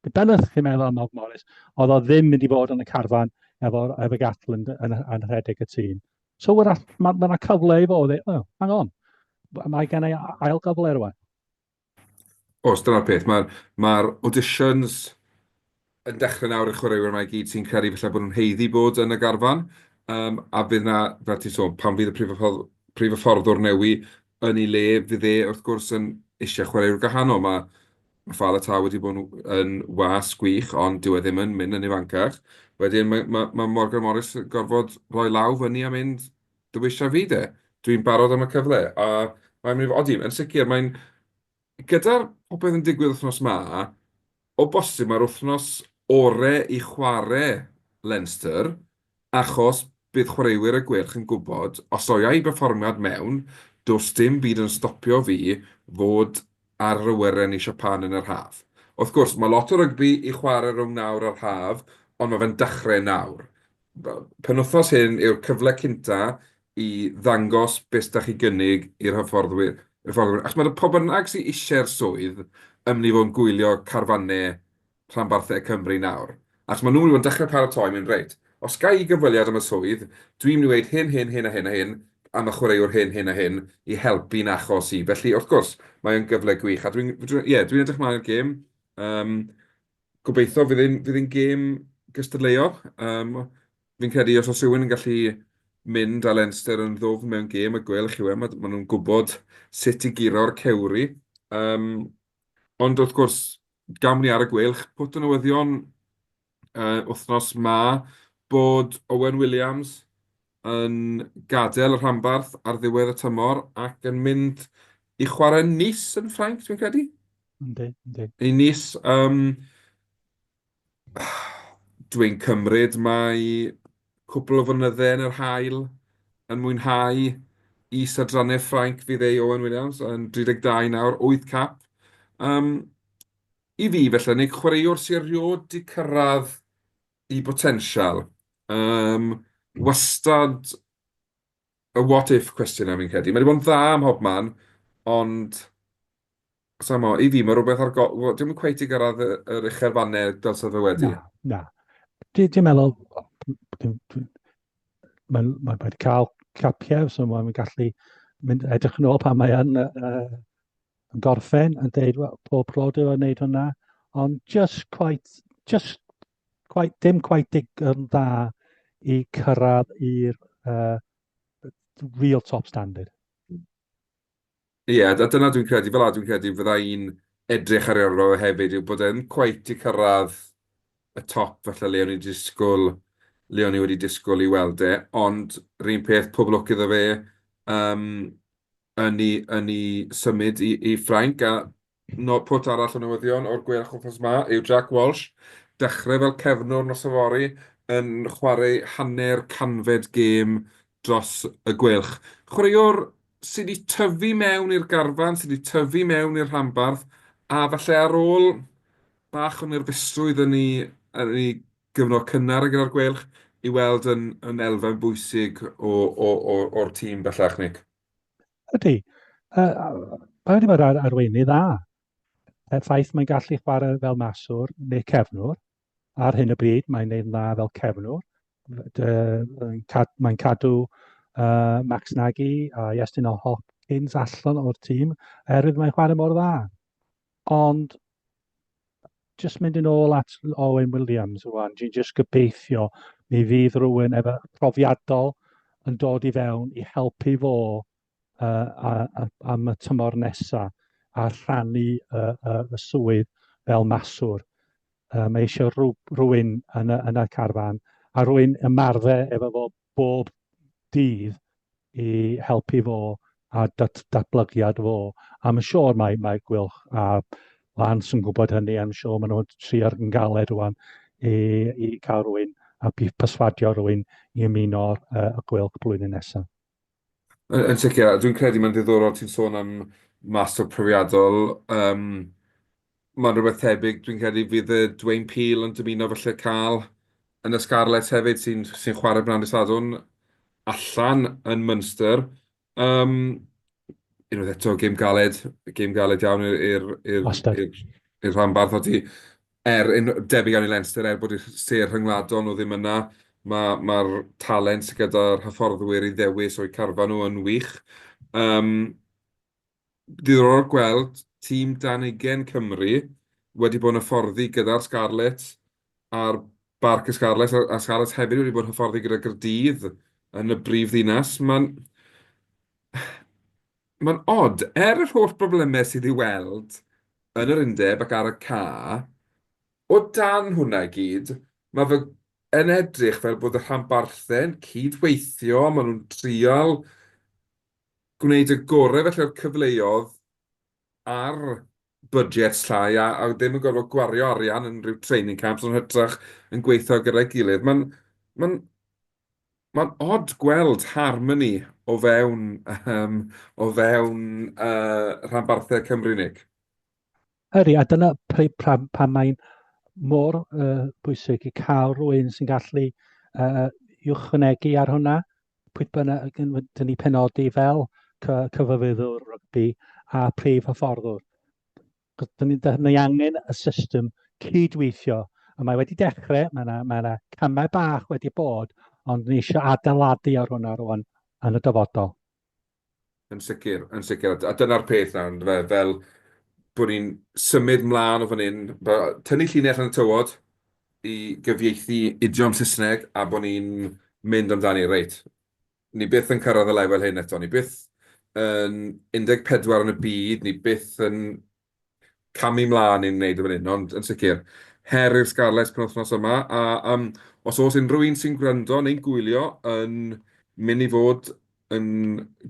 Be bynnag chi'n meddwl am Nob Morris, oedd o ddim mynd i fod yn y carfan efo, efo Gatland yn, yn, yn rhedeg y tîm. So wrach, mae yna ma cyfle i fod, oh, hang on, mae gen i ail gyfle rwan. Os dyna'r peth, mae'r ma auditions yn dechrau nawr i chwaraewyr yma i gyd sy'n credu felly bod nhw'n heiddi bod yn y garfan, um, a bydd yna, fel ti'n sôn, pan fydd y prif, ffordd, prif fforddwr newi yn ei le, fydd e wrth gwrs yn eisiau chwaraewyr gwahanol. Mae Mae Fal y Tâl wedi bod yn was gwych, ond dyw e ddim yn mynd yn ifancach. Wedyn mae mae mae Morgan Morris yn gorfod rhoi law fyny a mynd dywisa fi de. Dwi'n barod am y cyfle a mae'n mynd i fod... Odi, yn sicr mae'n... Gyda'r popeth yn digwydd wythnos 'ma, o bosib mae'r wythnos orau i chwarae Leinster Achos bydd chwaraewyr y Gweilch yn gwybod, os oia i berfformiad mewn, does dim byd yn stopio fi fod ar yr awyren i Siapan yn yr haf. Wrth gwrs, mae lot o rygbi i chwarae rhwng nawr a'r haf, ond mae fe'n dechrau nawr. Penwythnos hyn yw'r cyfle cynta i ddangos beth da chi gynnig i'r hyfforddwyr. Achos mae 'na pw bynnag sy eisiau'r swydd yn mynd i fod yn gwylio carfanau rhanbarthau Cymru nawr, achos maen nhw wedi bod yn dechrau paratoi, mynd reit, os ga i gyfweliad am y swydd, dwi'n mynd i weud hyn, hyn, hyn a hyn a hyn am y chwaraewr hyn, hyn a hyn i helpu yn achos i. Felly, wrth gwrs, mae o'n gyfle gwych, a dwi'n, dwi'n, ie, dwi'n edrych mlaen i'r gêm. Um, gobeithio fydd ein, fydd ein gêm gystadleuol. Um, fi'n credu os oes rhywun yn gallu mynd â Leinster yn ddwfn mewn gêm y gwelwch chi we, maen nhw'n gwybod sut i guro'r cewri. Um, ond wrth gwrs, Gawn ni ar y gweilch pwt o newyddion yr wythnos 'ma bod Owen Williams yn gadael y rhanbarth ar ddiwedd y tymor ac yn mynd i chwarae yn Nice yn Ffrainc, dwi'n credu? Yndi, yndi. I Nice. Dwi'n cymryd mai Cwpl o fynydde yn yr haul yn mwynhau is adrannau Ffrainc fydd ei Owen Williams yn 32 nawr, 8 cap. Um, I fi felly, Nick, chwaraewr sy'n riod di cyrraedd i botensial. Um, wastad y what if cwestiwn am fi'n credu. Mae wedi bod yn dda ym mhob man, ond Sa i'n gwybod, i fi mae rhywbeth ar go-... wel, dwi'm yn cweit 'di gyrraedd y- yr uchel fanne dylse fe wedi. Na, na. Di- Dwi'n meddwl, dwi'n- dwi'n- mae'n mae'n rhaid cael capiau, so mae'n gallu mynd edrych yn ôl pan mae yn, yy, yy, yn gorffen yn deud, wel, pob clod yw yn gwneud hwnna, ond just quite, just quite, dim quite dig yn dda i cyrraedd i'r uh, real top standard. Ie, a dyna dwi'n credu, fel'a dwi'n credu fydda i'n edrych ar ei ôl o hefyd, yw bod e ddim cweit 'di cyrraedd y top falle le o'n i 'di disgwyl, le o'n i wedi disgwyl i weld e, ond 'r un peth, pob lwc iddo fe yym yn ei yn ei symud i i Ffrainc, a Nod pwt arall y newyddion o'r gwe o'ch wythnos ma yw Jack Walsh, dechrau fel cefnwr nos yfory, yn chwarae hanner canfed gêm dros y Gweilch. Chwaraewr sy wedi tyfu mewn i'r garfan, sy wedi tyfu mewn i'r rhanbarth, a falle ar ôl bach o nerfusrwydd yn ei, yn ei gyfnod cynnar gyda'r Gweilch, i weld yn, yn elfen bwysig o, o, o, o'r tîm bellach, Nick. Ydy. Uh, mae wedi bod ar arweinydd dda. Er ffaith mae'n gallu chwarae fel maswr neu cefnwr, ar hyn o bryd mae'n neud dda fel cefnwr. Mae'n cadw uh, Max Nagy a Iestyn o Hopkins allan o'r tîm, erwydd mae'n chwarae mor dda. Ond, jyst mynd yn ôl at Owen Williams rwan, dwi'n jyst gobeithio mi fydd rhywun efo profiadol yn dod i fewn i helpu fo uh, a, a, am y tymor nesaf a rhannu uh, uh, y swydd fel maswr. Uh, mae eisiau rhywun yn y, yn y carfan a rwy'n ymarfer efo fo bob dydd i helpu fo a dat, datblygiad fo. A mae'n siŵr mae, mae Gwylch a Lance yn gwybod hynny, I'm siŵr maen nhw'n trio yn galed rwan i, i cael rwy'n a perswadio rwy'n i ymuno uh, y Gwylch blwyddyn nesaf. Yn yn sicr, a dwi'n credu mae'n ddiddorol ti'n sôn am master profiadol. Yym, mae'n rhywbeth tebyg, dwi'n credu fydd yy Dwayne Peel yn dymuno falle cael yn y Scarlets hefyd, sy'n sy'n chwarae Bran y Sadwrn allan yn Munster. Yym, unwaith eto, gêm galed, gêm galed iawn i'r i'r i'r Wastad. i'r i'r rhanbarth ati. Er, yn debyg iawn i Leinster, er bod y sêr rhyngwladol nhw ddim yna, mae'r talent sy gyda'r hyfforddwyr i ddewis o'u carfan nhw yn wych. Yym, ddiddorol gweld tîm dan ugain Cymru wedi bod yn hyfforddi gyda'r Scarlets ar Barc y Scarlets, a'r Scarlets hefyd wedi bod yn hyfforddi gyda Gaerdydd yn y brif ddinas. Mae'n... Mae'n od, er yr holl broblemau sydd i'w weld yn yr undeb ac ar y ca, o dan hwnna i gyd, mae fe yn edrych fel bod y rhanbarthau'n cyd-weithio, maen nhw'n trial gwneud y gorau felly o'r cyfleoedd ar budgets llai a, a ddim yn gorfod gwario arian yn rhyw training camps, ond hytrach yn gweithio gyda'i gilydd. Mae'n ma Mae'n od gweld harmoni o fewn yym o fewn yy rhanbarthau Cymru, Nick. Ydy, a dyna pr- pr- pan mae'n mor uh, bwysig i cael rhywun sy'n gallu uh, ychwanegu ar hwnna, pwy bynnag yn dynnu penodi fel cyfyfyddwr rygbi a prif hyfforddwr. Dyn ni'n dda- ni angen y system cydweithio, a mae wedi dechrau, mae yna mae yna camau bach wedi bod, ond ni eisiau adeiladu ar hwnna rŵan yn y dyfodol. Yn sicr, yn sicr, a dyna'r peth nawr yndyfe, fel bod ni'n symud mlaen o fan hyn, tynnu llinell yn y tywod i gyfieithu idiom Saesneg a bod ni'n mynd amdani, reit, Ni byth yn cyrraedd y lefel hyn eto. Ni byth yn 14 yn y byd, ni byth yn camu mlaen i'n wneud yn fan hyn, ond yn sicr, her i'r Scarlets penwythnos yma, a um, os oes unrhyw un sy'n gwrando neu'n gwylio yn mynd i fod yn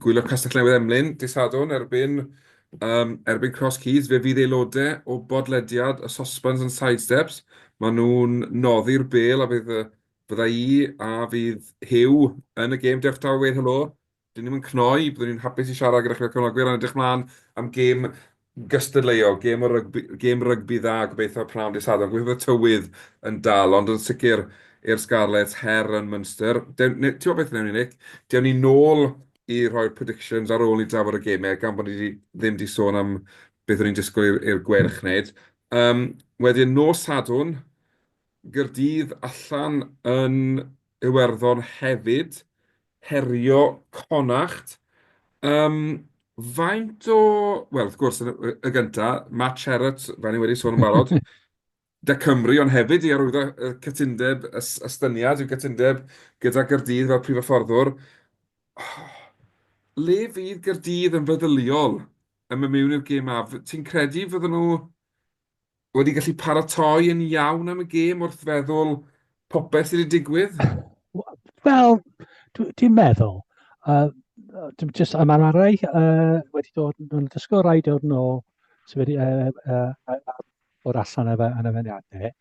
gwylio Castell Newydd Emlyn, disadwn erbyn, um, erbyn Cross Keys, fe fydd aelodau o bodlediad y Sosbans yn Sidesteps, maen nhw'n noddi'r bel a bydd y Bydda i, a fydd Huw yn y gêm, diolch Daw i weud helo. Dyn ni'm yn cnoi, byddwn ni'n hapus i siarad gyda chi fel cefnogwyr, a'n edrych mlaen am gêm gystadleuol, gêm o rygbi, gêm rygbi dda, gobeithio pnawn dydd Sadwrn, gobeithio bod y tywydd yn dal, ond yn sicr i'r Scarlets her yn Munster. Dewn, ne, ti'n gwybod beth wnewn ni, Nick? Dewn ni nôl i roi'r predictions ar ôl i drafod y gemau, gan bod ni di, ddim wedi sôn am beth o'n i'n disgwyl i'r gwerch wneud. Um, wedyn, nos Sadwrn, Gaerdydd allan yn Iwerddon hefyd, herio Connacht. Yym, faint o... Wel, wrth gwrs, y gynta, Matt Sherratt, fel ni wedi sôn yn barod, 'da Cymru, ond hefyd i arwyddo y cytundeb, y estyniad i'w gytundeb gyda Gaerdydd fel prif hyfforddwr. Le fydd Gaerdydd yn feddyliol yn mynd mewn i'r gêm 'ma? Ti'n credu fydden nhw wedi gallu paratoi yn iawn am y gêm wrth feddwl popeth sydd wedi digwydd? Wel, dwi'n meddwl. Uh, just am arau uh, wedi dod yn dysgu rai dod yn ôl sydd wedi uh, uh, uh, bod allan efo yn y fyniadau.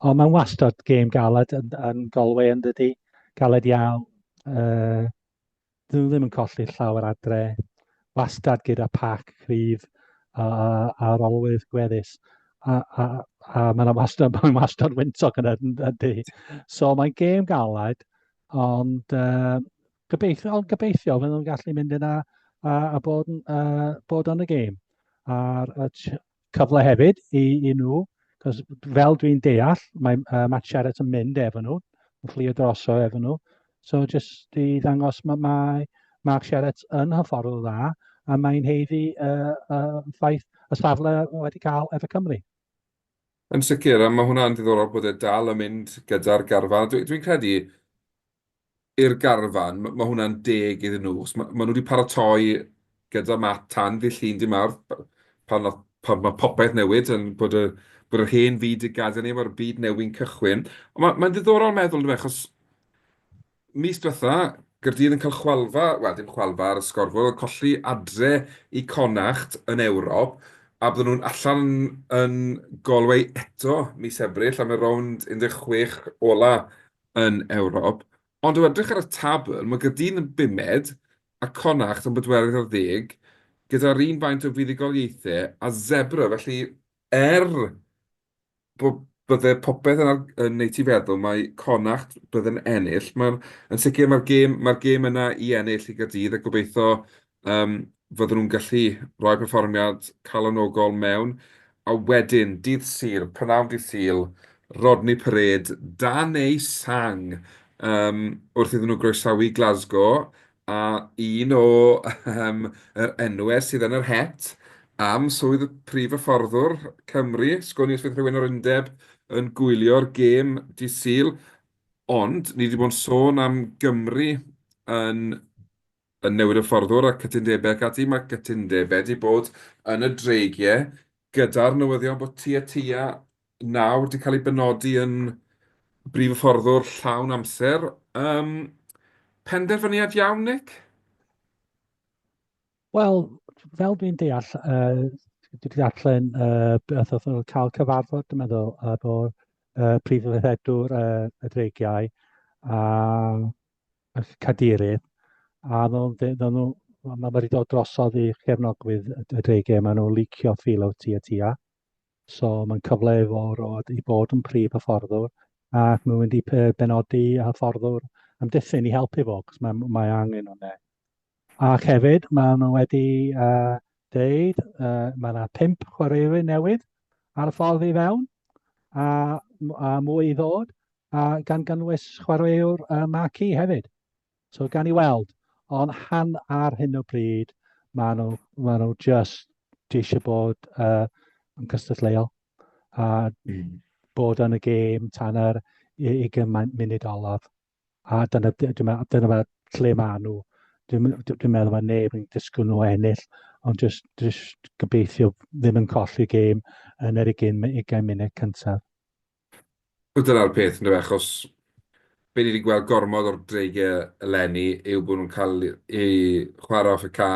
Ond mae'n wastad gêm galed yn, yn golwe yn dydy. Galed iawn. Uh, Dyn nhw ddim yn colli llawer adre, wastad gyda pac cryf a, a, a rolwydd gweddus. A, a, a mae'n wastad, mae wastad wyntoc yn ydy. So mae'n gêm galed, ond uh, gobeithio, ond gobeithio fydden nhw'n gallu mynd yna a, a bod, uh, bod yn y gêm. A'r cyfle hefyd i, i nhw, cos fel dwi'n deall, mae uh, Matt Sherratt yn mynd efo nhw, yn fflio droso efo nhw. So jyst i ddangos mae, mae Mark Sherratt yn hyfforddwr dda, a mae'n heiddi uh, uh, ffaith y safle wedi cael efo Cymru. Yn sicr, a mae hwnna'n diddorol bod e dal yn mynd gyda'r garfan. Dwi'n dwi credu, i'r garfan, mae hwnna'n deg iddyn nhw, achos maen nhw wedi paratoi gyda mat tan ddydd Llun dydd Mawrth, pan mae popeth newid, bod yr hen fyd wedi gadael ni, mae'r byd newydd yn cychwyn. Ond mae'n ddiddorol meddwl yndyfe, achos mis diwetha, Gaerdydd yn cael chwalfa, wel dim chwalfa ar y sgorfwr, ond colli adre i Connacht yn Ewrop, a bydden nhw'n allan yn Galway eto mis Ebrill am y rownd 16 ola' yn Ewrop, ond o edrych ar y tabl, mae Gaerdydd yn bumed a Connacht yn bedwerydd ar ddeg, gyda'r un faint o fuddugoliaethau â Zebre, felly er bod bydde popeth yn, yn neud ti feddwl mae Connacht bydde'n ennill, mae'n yn sicr mae'r gêm, mae'r gêm yna i ennill i Gaerdydd a gobeithio Yym fyddan nhw'n gallu rhoi perfformiad calonogol mewn a wedyn dydd Sul, prynhawn dydd Sul, Rodney Parade dan eu sang yym wrth iddyn nhw groesawu Glasgow a un o yym yr enwau sydd yn yr het am swydd y prif hyfforddwr Cymru, sgwn i os fydd rhywun o'r undeb yn gwylio'r gêm dydd Sul, ond ni 'di bod yn sôn am Gymru yn yn newid y fforddwr a cytundebau ac ati, mae cytundebau 'di bod yn y dreigiau gyda'r newyddion bod tua tua nawr 'di cael ei benodi yn brif hyfforddwr llawn amser. Um, penderfyniad iawn, Nick? Wel, fel dwi'n deall, uh, dwi'n deallen uh, beth oedd yn cael cyfarfod, dwi'n meddwl, efo uh, prif hyfforddwr uh, y dreigiau, a eich cadeirydd, a ddylwn ddyn nhw, mae wedi dod drosodd i chefnogwydd y DG, maen nhw licio ffil o tu a tua. So mae'n cyfle i fo roed i bod yn prif hyfforddwr, ac mae'n mynd i benodi hyfforddwr am diffyn i helpu fo, cos mae, mae angen hwnna. Ac hefyd, maen nhw wedi uh, deud, uh, mae yna pimp chwaraewyr newydd ar y ffordd i fewn, a, a mwy i ddod, a gan gynnwys chwaraewr uh, Marquee hefyd. So gan i weld, ond han ar hyn o bryd, maen nhw, maen nhw just eisiau bod uh, yn cystadleuol a mm. bod yn y gêm tan yr i, i gymaint munud olaf. a dyna, dyna, dyna fe lle maen nhw. Dwi'n dwi meddwl mae neb yn disgwyl nhw ennill, ond jyst, jyst gobeithio ddim yn colli gêm yn yr 20 munud cyntaf. Dyna'r peth, ynddo fe, achos be ni wedi gweld gormod o'r dreigiau eleni yw bod nhw'n cael eu chwarae off y ca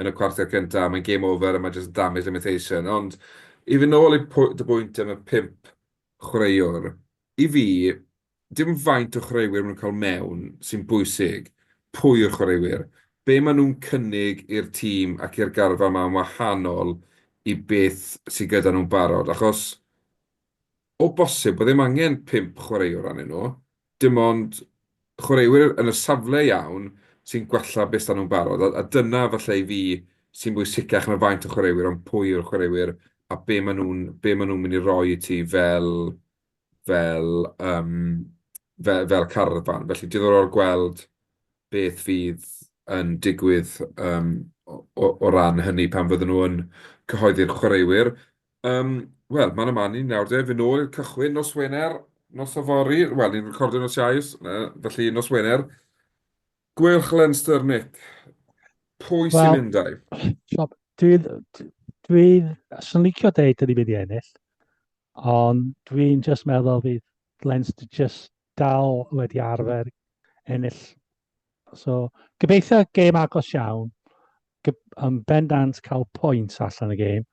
yn y cwarter cyntaf, mae'n game over a mae jyst yn damage limitation. Ond i fy nôl i dy bwynt am y pimp chwaraewr, i fi, dim ond faint o chwaraewyr maen nhw'n cael mewn sy'n bwysig, pwy yw'r chwaraewyr, be maen nhw'n cynnig i'r tîm ac i'r garfan ma'n wahanol i beth sy gyda nhw'n barod, achos o bosib bod ddim angen pump chwaraewr arnyn nhw, dim ond chwaraewyr yn y safle iawn sy'n gwella be s'da nhw'n barod, a dyna falle i fi sy'n bwysicach na faint o chwaraewyr ond pwy yw'r chwaraewyr a be maen nhw'n mynd i roi i ti fel fel yym fe- fel carfan. Felly diddorol gweld beth fydd yn digwydd yym o o o ran hynny pan fyddan nhw yn cyhoeddi'r chwaraewyr. Yym wel, man a man i ni nawr de, fy' nôl i'r cychwyn nos Wener, nos yfory, wel ni'n recordio nos Iau s- yy felly nos Wener. Gweilch Leinster, Mick, pwy sy'n Wel- mynd a'i...? Dwi dwi 'swn i'n licio deud 'dan ni'n mynd i ennill. Ond dwi'n jyst meddwl fydd Leinster jyst dal wedi arfer ennill. So, gobeithio gêm agos iawn, yn bendant cael pwynt allan y gêm.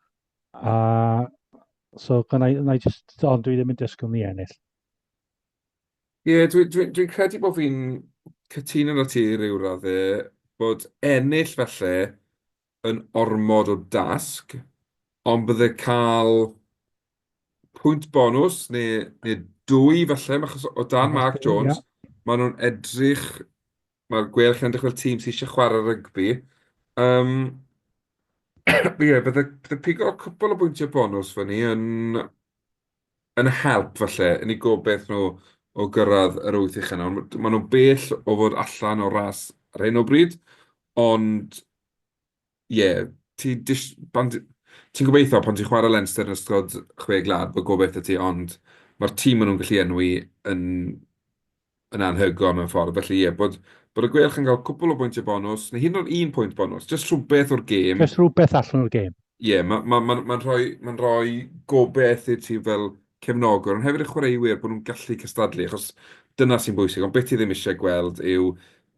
A, so, na i, na i just, ond dwi ddim yn disgwyl ni ennill. Ie, yeah, dwi'n dwi, dwi credu bod fi'n cytuno na ti rhyw raddau, bod ennill falle yn ormod o dasg, ond bydde cael pwynt bonws neu neu dwy falle, ma' achos o dan Mark Jones, ma' nhw'n edrych, ma'r Gweilch yn edrych fel tîm sy isie chware rygbi. Yym ie bydde bydde pigo cwpwl o bwyntie bonws fyny yn yn help falle yn eu gobaith nhw o gyrraedd yr wyth ucha nawr. Maen nhw'n bell o fod allan o'r ras ar hyn o bryd, ond ie, ti'n gobeithio pan ti'n chwarae Leinster yn ystod chwe gwlad bod gobaith 'da ti, ond mae'r tîm maen nhw'n gallu enwi yn yn anhygoel mewn ffordd, felly ie, bod bod y Gweilch yn cael cwpl o bwyntiau bonws, neu hyd yn oed un pwynt bonws, jyst rhywbeth o'r gêm. Jyst rhywbeth allan o'r gêm. Ie, mae'n ma, ma, ma rhoi, ma rhoi gobeith i'r tîm fel cefnogwr, ond hefyd y chwaraewyr bod nhw'n gallu cystadlu, achos dyna sy'n bwysig, ond beth ti ddim eisiau gweld yw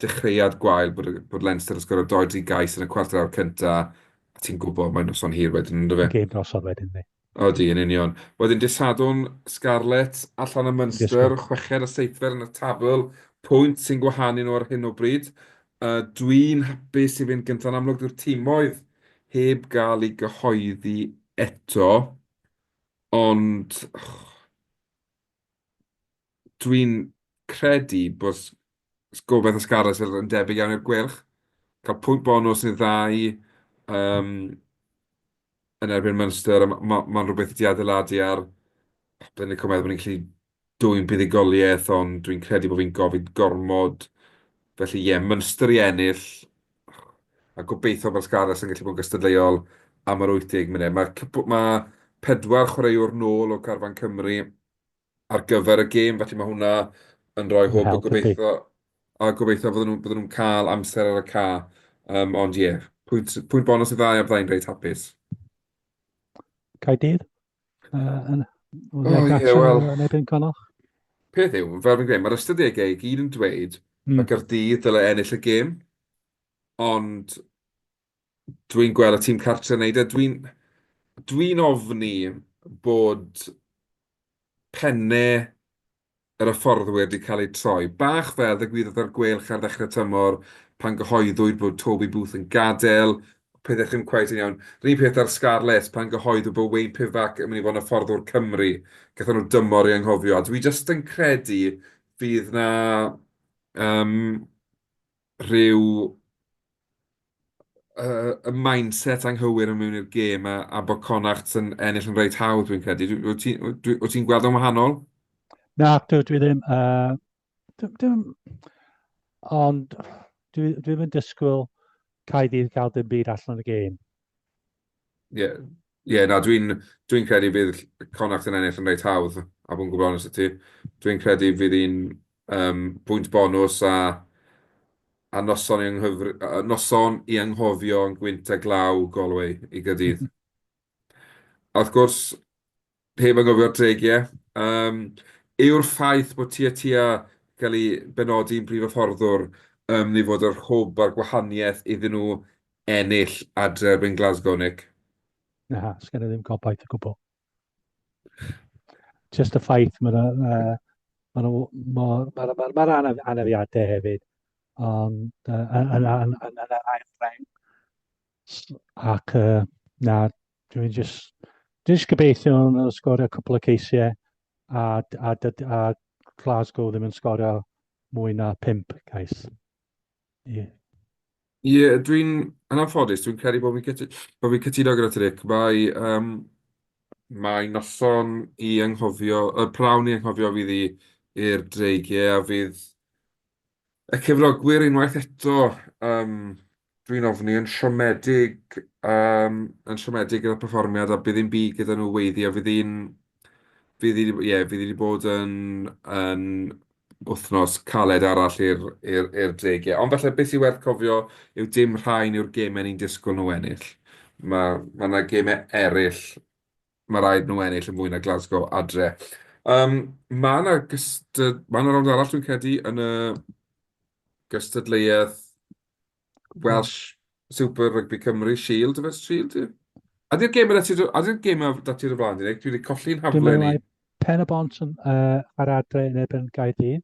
dechreuad gwael bod, bod Leinster yn sgorio 2-3 gais yn y cwarter awr cyntaf, a ti'n gwybod mae'n noson hir wedyn, ynddo fe? Gêm noson wedyn, ni. Odi, yn union. Wedyn dydd Sadwrn, Scarlets allan yn Munster, chweched a seithfed yn y tabl, pwynt sy'n gwahanu nhw ar hyn o bryd. Uh, Dwi'n hapus i fynd gyntaf yn amlwg dyw'r tîmoedd heb gael ei gyhoeddi eto, ond dwi'n credu bod gobaith y Scarlets yn debyg iawn i'r Gweilch. Cael pwynt bonws sy'n dda i yym yn erbyn Munster, a ma' ma' ma'n rywbeth i ti adeiladu ar. Dwi'n lico meddwl bod ni'n gallu dwyn buddugoliaeth, ond dwi'n credu bod fi'n gofyn gormod. Felly ie, Munster i ennill. a gobeitho bod Scarlets yn gallu bod yn gystadleuol am yr 80 munud. Mae cwpl... ma' pedwar chwaraewr nôl o garfan Cymru ar gyfer y gêm, felly mae hwnna yn rhoi hwb a gobeitho a gobeitho fydden nhw'n bydden nhw'n cael amser ar y ca. Yym ond ie, pwynt pwynt bonws y ddau a byddai'n reit hapus. Caerdydd? Yy yn... O ie wel... Yn erbyn Connacht? Peth yw, fel fi'n gweud, mae'r ystadegau i gyd yn dweud mm. mae Gardydd dylai ennill y gêm, ond dwi'n gweld y tîm cartre yn neud e. Dwi'n dwi ofni bod penne yr hyfforddwyr 'di cael eu troi. Bach fel ddigwyddodd ar Gweilch ar ddechrau tymor pan gyhoeddwyd bod Toby Booth yn gadael, pethau ddim cweit yn iawn. Yr un peth â'r Scarlets pan gyhoeddwyd bod Wayne Pivac yn mynd i fod yn hyfforddwr Cymru. Gaethon nhw dymor i anghofio. A dwi jyst yn credu fydd 'na yym rhyw yy y mindset anghywir yn mynd i'r gêm a a bod Connacht yn ennill yn reit hawdd dwi'n credu. Dw- Wyt ti dwi- wyt ti'n gweld o'n wahanol? Na, dwi, dwi ddim. Uh, dwi, dwi, ond dwi, dwi ddim yn disgwyl cael ddydd gael dim byd allan o'r gêm. Ie, ie na dwi'n dwi'n credu bydd Connacht yn ennill yn reit hawdd a bod yn gwbl onest 'da ti. Dwi'n credu fydd hi'n yym bwynt bonws a a noson i ynghyfr- yy noson i anghofio yn gwynt a glaw Galway i Gaerdydd. A wrth gwrs Heb anghofio'r deg, ie. Yym, yw'r ffaith bod Tŷ a Tŷ a cael ei benodi'n brif hyfforddwr ym myd fod yr hwb a'r gwahaniaeth iddyn nhw ennill adre erbyn Glasgow, Nick? Na, sgen i ddim gobaith o gwbl. Just y ffaith mae nhw, uh, mae nhw, mae'r ma, ma, ma, ma anafiadau hefyd, ond uh, yn, yn, yn, yn, yn yr ail reng, Ac uh, na, dwi'n just, just gobeithio yn sgorio cwpl o ceisiau a, a, a, a Glasgow ddim yn sgorio mwy na pimp cais. Ie. Yeah. Ie, yeah, dwi'n, yn anffodus, dwi'n credu bod fi'n cytuno gyda ti, Rick. Mae, um, mae noson i anghofio, y prawn i anghofio fydd i i'r dreigiau a fydd Y cefnogwyr unwaith eto yym dwi'n ofni yn siomedig yym yn siomedig gyda'r perfformiad a bydd ddim byd gyda nhw weithiau. Fydd hi'n fydd hi 'di b- ie fydd hi 'di bod yn yn wythnos caled arall i'r i'r i'r deg ie. Ond falle be sy werth cofio yw dim rhain yw'r gemau ni'n disgwyl nhw ennill. Ma' ma' 'na gemau eraill ma raid nhw ennill yn fwy na Glasgow adre. Um, mae yna gystad... Mae yna rownd arall dwi'n credu yn y gystadleuaeth Welsh Super Rugby Cymru Shield, yfes Shield? Ydy'r gêm yna ti'r... Ydy'r gêm yna dati'r y blaen, Dwi wedi colli'n haflen i. Pen y bont yn, uh, ar adre yn ebyn Gaerdydd.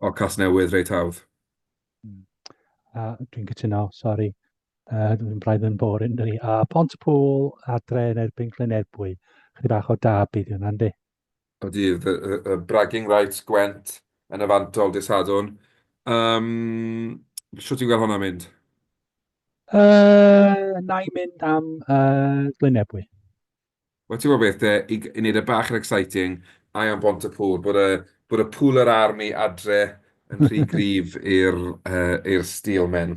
O, Casnewydd reit hawdd. Hmm. A dwi'n cytuno, sori. Uh, dwi'n braidd yn boring, dwi. A Pont y Pôl, adre yn erbyn Glynebwy. Chydig bach o dab i hwnna, yndi? O dydd, y, y, y bragging rights Gwent yn y fantol dy sadwn. Um, Sio ti'n gweld hwnna mynd? Uh, na i mynd am uh, Glynebwy. Wel ti'n gwybod beth de, i wneud e bach yn exciting, I am Bontepŵr, bod y bod y pŵl yr army adre yn rhy gryf i'r yy i'r steelmen.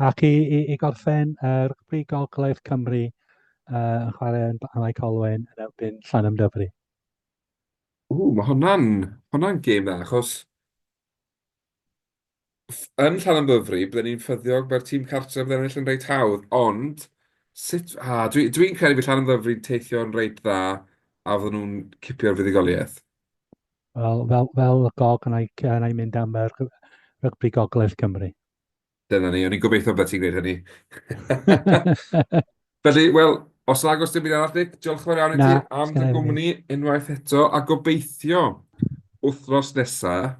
Ac i, i, i gorffen, uh, rygbi Gogledd Cymru uh, yn chwarae yn Blaenau Colwen yn erbyn Llanham Dyfri. Ww, mae hwnna'n hwnna'n gêm dda, achos yn Llanymddyfri, bydden ni'n ffyddiog, mae'r tîm cartref yn ennill yn reit hawdd, ond sut... A, dwi, dwi'n credu bydd Llanymddyfri'n teithio'n reit dda a fydden nhw'n cipio'r fuddugoliaeth. Wel, fel, fel gog yn ei, yn ei mynd am yr rygbi gogledd Cymru. Dyna ni, o'n i'n gobeithio bod ti'n gwneud hynny. Felly, wel, os ag os dim byd arall, Nick, diolch yn fawr iawn i ti am dy gwmni unwaith eto, a gobeithio wythnos nesaf,